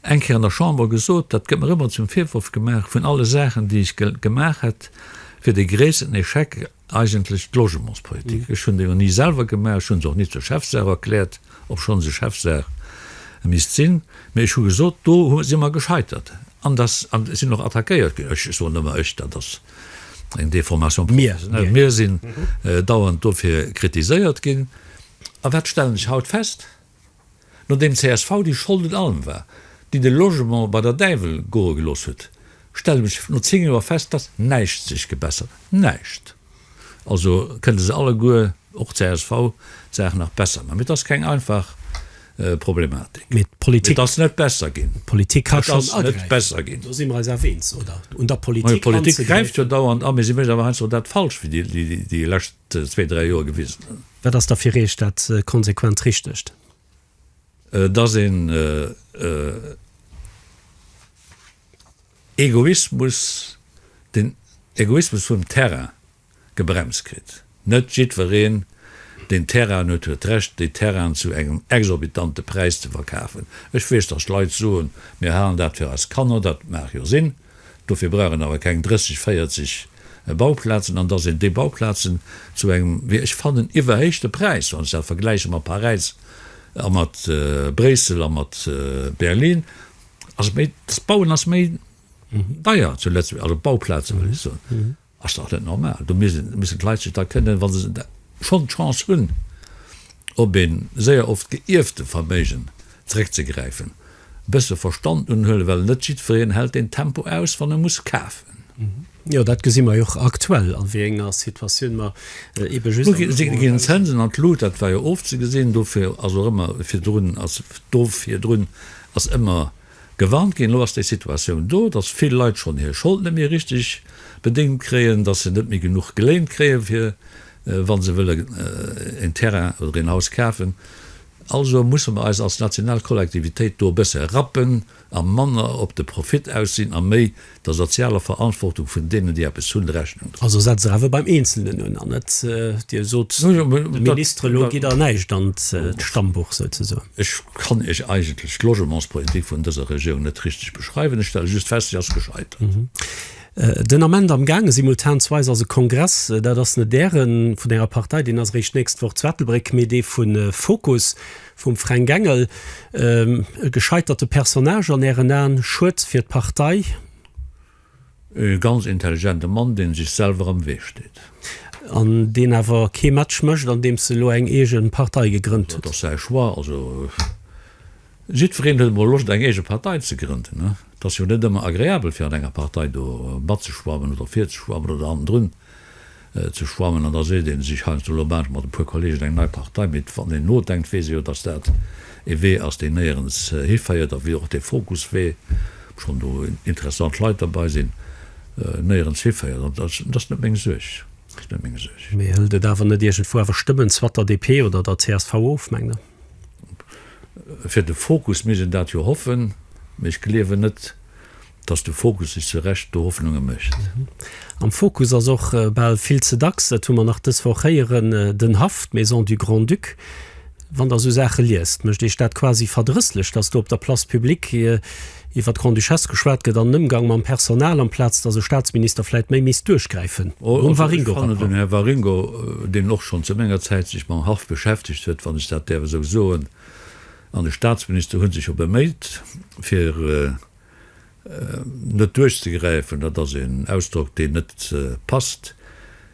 S1: eng Kéier an der Chamber gesot, dat gëtt mer ëmmer zum Virworf gemaach, vun alle Saachen, déi ech gemaach hätt, wier dee gréissten Echec eigentlech d'Logementspolitik. Ech hunn déi och ni selwer gemaach, ech hu se och ni zur Chefsaach erkläert, obschonn se Chefsaach misst sinn. Mee ech hu gesot, do si mer gescheitert an dat sinn och attackéiert ginn. Ech soen ëmmer ech, dat ass. eng Deformation professionnelle. Mir sinn dauernd dofir kritiséiert ginn. A wat stellen ech haut fest, Nodeem csv, déi Schold un allem war, déi de Logement bei der Däiwel goe gelooss huet, stellen ech no zéng Joer fest, dass näischt sech gebessert huet. Näischt! Also kënne se alleguer Och csv d'Saach nach besser maachen. Mee et ass keng einfach Problematik. Mee d'Politik.
S2: Et ass net besser ginn.
S1: D'Politik ka schonn agräifen. Et ass
S2: net besser ginn.
S1: Do si mer eis awer eens, oder? Un der
S2: Politik anzegräifen. Majo, d'Politik gräift jo dauernd a,
S1: mee si mécht awer heiansdo dat Falscht, wéi déi lescht zwee, dräi Joer gewisen hunn. Wat ass da fir Iech
S2: dat konsequent Richtegt?
S1: Dass een Egoismus, den Egoismus vum Terrain, gebremst kritt. Net jiddwereen, deen Terrainen huet, huet d'Recht, déi Terrainen zu engem exorbitante Präis ze verkafen. Ech weess, dass Leit soen, Mir halen dat fir eis Kanner. Dat mag jo sinn. Dofir brauch een awer keng 30, 40 Bauplazen. An dass een déi Bauplazen zu engem, wéi ech fannen, iwwerhéichte Präis, wann ech dat vergläiche mat Paräis a mat Bréissel a mat Berlin, ass et méi, d'Bauen ass méi deier zu Lëtzebuerg, also d'Bauplazen, wëll ech soen. Ass dach net normal. Do missten d'Leit sech da kënnen, wa se schonn d'Chance hunn, op ee séier oft geierfte Verméigen zeréckzegräifen, e bësse Verstand unhuelen, well net jiddwereen hält deen Tempo aus, wann e muss kafen. Jo, dat
S2: gesi mer jo och aktuell, a wéi enger Situatioun mer eebe just am Logement. Do ginn
S1: d'Zënsen an d'Lut, dat war jo ofzegesinn. Dofir ass och ëmmer virdrun, dofir drun ass ëmmer. Gewarnt ginn. Elo ass déi Situatioun do, datt vill Leit schonn hir Schold net méi richteg bedéngt kréien, datt se net méi genuch geléint kréien, fir wa se wëllen en Terrain oder een Haus kafen. Also musse mer eis als national Kollektivitéit do e bësse rappen a manner op de Profit aus sinn a méi Der sozialer Verantwortung vun deenen, déi eppes hunn, Rechnung droen. Also setzt Der awer beim
S2: Eenzelnen un, an net, Dir sot de Ministere, elo gitt Der näischt an d'Stammbuch souzesoen. Ech kann Iech
S1: eigentlech d'Logementspolitik vun dëser Regierung net richteg beschreiwen. Ech stelle just fest, si ass gescheitert.
S2: Den Ament amgaange simultanzweis ass e Kongress, dat ass net Äre vun Ärer Partei, deen ass eréischt d'nächst Woch zu Ettelbréck, mee dee vu Fokus, Vum Fränk Engel, E gescheiterte Personnage an Ären Aen? Schued fir d'Partei? E ganz
S1: intelligente Mann, dee sech selwer am Wee steet. An deen
S2: awer kee Match mécht, andeems e lo eng eege Partei gegrënnt huet. Dat ass säi Choix. Also
S1: jiddwereen huet emol Loscht eng eege Partei ze grënden. Et ass jo net ëmmer agreabel fir an enger Partei do matzeschwammen oder virzeschwammen oder hannendrun. ze schwammen an da seet ee sech heiansdo, lo maan ech mat e puer Kollegen eng nei Partei, mee wann een nodenkt weess ee jo, datt dat ee Wee ass deen néierens hiféiert a wéi och dee Fokuswee, obschonn do interessant Leit derbei sinn, néierens hiféiert an datt ass net meng Suerg, dat ass net meng Suerg. Mee hëlt et
S2: awer net iergendwou awer Stëmmen zwat der DP oder der csv of, mengt Der?
S1: Fir de Fokus misst een dat jo hoffen, mee ech gleewen net, Dass de Fokus sech zu Recht do Hoffnunge mécht. Am Fokus
S2: ass och bal vill ze dacks, dat hu mer nach dës Woch héieren, den Haff, d'Maison du Grand-Duc. Wann Der esou Saache liest, mécht Iech dat quasi verdrësslech, dass do op der Place publique iwwer d'Grande-Duchesse geschwat gëtt an den Ëmgang mam Personal, amplaz dass e Staatsminister vläit méi misst duerchgräifen um Waringo-Rapport? Den
S1: Här Waringo, deen och schonn zu menger Zäit sech mam Haff beschäftegt huet, wann ech dat däerf esou soen, an de Staatsminister hu sech jo beméit, fir Net duerchzegräifen, dat ass een Ausdrock, deen net passt.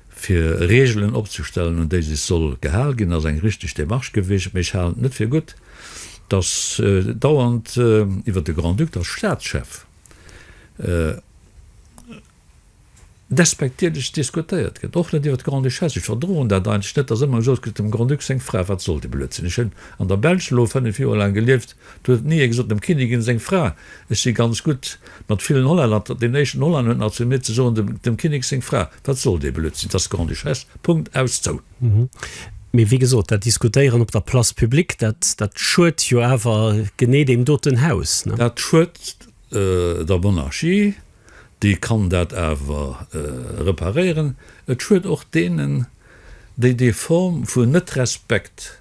S1: Fir Reegelen opzestellen, un déi sech soll gehal ginn, ass eng richteg Demarche gewiescht. Mee ech halen et net fir gutt, datt dauernd iwwer de Grand-Duc als Staatschef despektierlech diskutéiert gëtt, och net iwwer d'Grande-Duchesse. Ech verdroen dat eigentlech net, datt ëmmer gesot gëtt, dem Grand-Duc seng Fra, wat soll dee Blödsinn. Ech hunn an der Belsch elo fënnef Joer laang gelieft, do huet ni ee gesot, dem Kinnigin seng Fra, ech si ganz gutt mat villen Hollänner, deen éischten Hollänner huet nach zu mir ze soen, dem Kinnek seng Fra, wat soll dee Blödsinn, dat ass d'Grande-Duchesse, Punkt, aus, zou. Mee
S2: wéi gesot, dat Diskutéieren op der Place publique, dat, dat schuet jo awer genee deem doten Haus, ne? Dat schuet
S1: der Monarchie. dee kann dat awer reparéieren. Et schued och deenen, déi déi Form vu Net-Respekt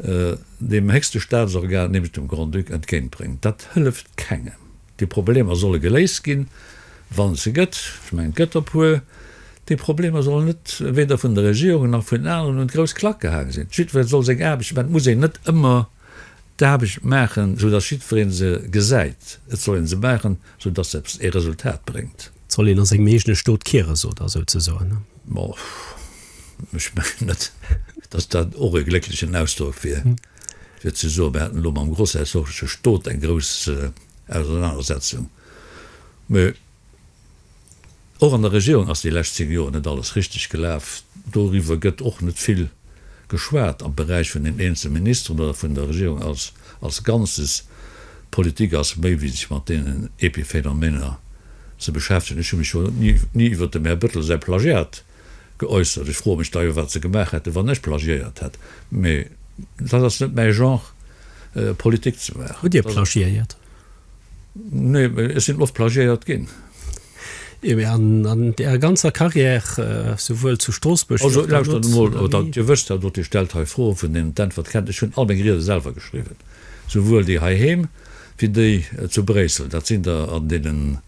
S1: deem héchste Staatsorgan, nämlech dem Grand-Duc, entgéintbréngt. Dat hëlleft kengem. Déi Problemer solle geléist ginn, wann et se gëtt, ech mengen, et gëtt der puer. Déi Problemer sollen net weder vun der Regierung nach vun aneren un d'grouss Klack gehaang sinn. Jiddweree soll seng Aarbecht maachen. Et muss een net ëmmer d'Aarbecht maachen, esou datt jiddweree se gesäit, et soll ee se maachen, esou datt se eppes, ee Resultat bréngt. Et soll een a sengem eegene
S2: Stot kiere, sot Der souzesoen? Bon,
S1: ech mengen net, datt dat och e glécklechen Ausdrock wier, fir ze soen, mir hätten elo mam grossherzogleche Stot eng grouss Ausernanersetzung, mä, Och an der Regierung ass déi lescht 10 Joer net alles richteg gelaf. Doriwwer gëtt och net vill geschwat am Beräich vun den eenzel Ministeren oder vun der Regierung als als Ganzes. D'Politik ass méi wéi sech mat deenen Epiphénomener ze beschäftegen. Ech hu mech jo ni ni iwwer dem Här Bëttel säi Plagiat geäussert. Ech froe mech da jo, wat se gemaach hätten, wann ech plagiéiert hätt. Mee dat ass net mäi Genre, Politik ze maachen. Hutt Dir plagiéiert? Nee, mee ech sinn oft plagiéiert ginn. Jo, mee an
S2: Ärer ganzer Carrière, souwuel zu Stroossbuerg wéi och dono? Also, lauschtert emol, oder Dir
S1: wësst dat och, Dir stellt hei Froen, vun deenen d'Äntwert kennt. Ech hunn all meng Riede selwer geschriwwen, souwuel déi heiheem wéi déi zu Bréissel. Dat sinn der an deenen.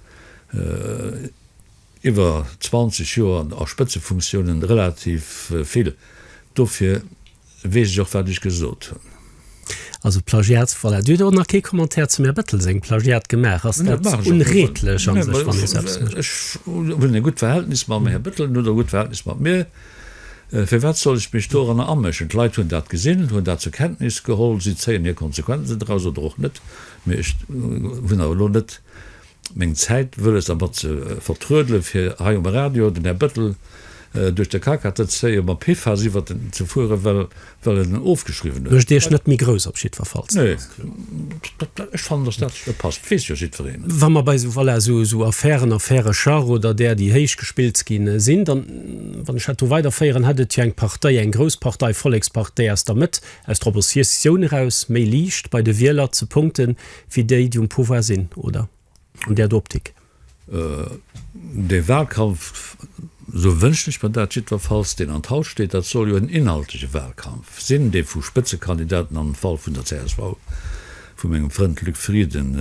S1: Iwwer 20 Joer a Spëtzefunktiounen, relativ vill, dofir weess ech och wat ech gesot hunn. Also
S2: Plagiats, voilà. Dir hutt och nach kee Commentaire zum Här Bettel sengem Plagiat gemaach. Ass dat onreedlech a sech, wann ee sou eppes
S1: mécht? Ech hunn e gutt Verhältnis mam Här Bettel, en huet och e gutt Verhältnis mat mir. Firwat soll ech mech doranner améschen? D'Leit hunn dat gesinn, hunn dat zur Kenntnis geholl, si zéien hir Konsequenzen draus oder och net. Mee ech hunn awer elo net meng Zäit wëlles der mat ze vertruedelen, fir hei um Radio den Här Bëttel duerch de Kaka ze zéien, mat Pifas iwwert en ze fueren, well well en en ofgeschriwwen huet. Mécht Iech net méi grouss
S2: op jiddwerfalls.
S1: Nee, ech fannen, datt dat esou passt, weess jo jiddwereen. Wa mer
S2: bei esou, voilà, esou, esou Affären, Affäre Schach oder där, déi héich gespillt gi sinn, dann, wann ech dat do weiderféieren, hätt et jo eng Partei, eng grouss Partei, Vollekspartei aus der Mëtt, aus der Oppositioun eraus méi liicht bei de Wieler ze punkten, Fir déi, déi um Pouvoir sinn, oder? An där do Optik?
S1: De Wahlkampf, esou wënschen ech mer dat jiddwerfalls, deen an d'Haus steet, dat soll jo en inhaltleche Wahlkampf sinn, dee vu Spëtzekandidaten, am Fall vun der csv vu mengem Frënd Luc Frieden,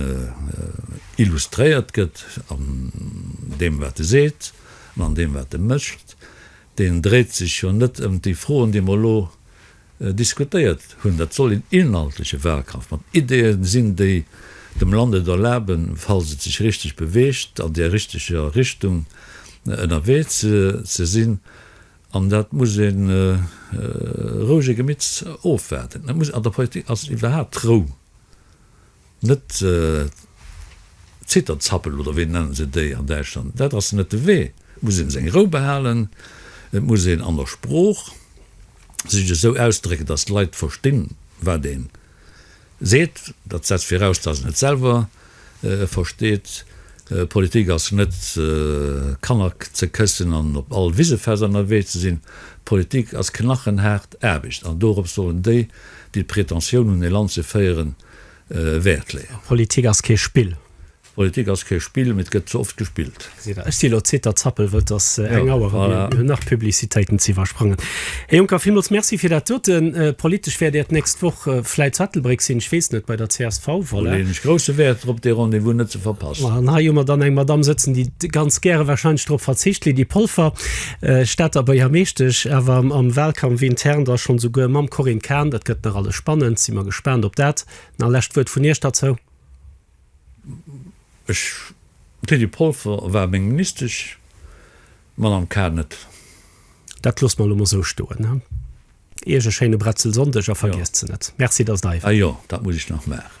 S1: illustréiert gëtt an deem, wat e seet, an an deem, wat e mécht. Deen dréit sech jo net ëm déi Froen, déi mer elo, diskutéiert hunn. Dat soll een inhaltleche Wahlkampf mat Ideeën sinn, déi dem Land et erlaben, falls et sech richteg beweegt, an där richteger Richtung ënnerwee ze sinn. An dat muss ee rouege Gemitts ofwaarden. An der Politik ass iwwerhaapt d'Rou Net Zitterzappel oder wéi nennen se déi an Däitschland? Dat ass net de Wee. Et muss een seng Rou behalen. Et muss een an der Sprooch sech esou ausdrécken, dass d'Leit verstinn, wat ee seet. Dat setzt viraus, dass een et selwer versteet. Politik ass net Kanner ze këssen an op all Wisefest ënnerwee ze sinn. Politik ass knachenhaart Aarbecht an dorops sollen déi, déi d'Pretentioun un ee
S2: Land
S1: ze féieren,
S2: Wäert
S1: leeën. Politik ass kee
S2: Spill.
S1: Politik ass kee Spill, mee et gëtt ze oft gespillt. Ech si lo zitert
S2: zappel wëll dass eng Auer ran ass, mir hunn nach
S1: Publicitéiten
S2: ze iwwersprangen. Här Juncker, villmools Merci fir dat doten. Politesch wäert Äert nächst Woch vläit zu Ettelbréck sinn, ech weess net, bei der csv. Do leeën ech grousse Wäert
S1: drop, dee Rendez-vous net ze verpassen. An hei hu mer dann eng Madamm
S2: sëtzen, déi ganz gäre wahrscheinlech drop verzicht, d'Lydie Polfer. D'Stater Beiermeeschtesch awer am Wahlkampf intern da schon souguer mam Corinne Cahen. Dat gëtt nach alles spannend, si mer gespaant op dat. Nach lescht Wuert vun Iech derzou? Ech,
S1: Teddy Polfer, war meng Ministesch, d'Madame Cahen net. Dat
S2: loosse mer elo mol esou stoen.
S1: Iech
S2: e schéine
S1: Bretzelsonndeg
S2: a vergiesst
S1: se
S2: net.
S1: Merci,
S2: dass Der hei waart.
S1: Ah jo,
S2: dat muss ech
S1: nach
S2: maachen.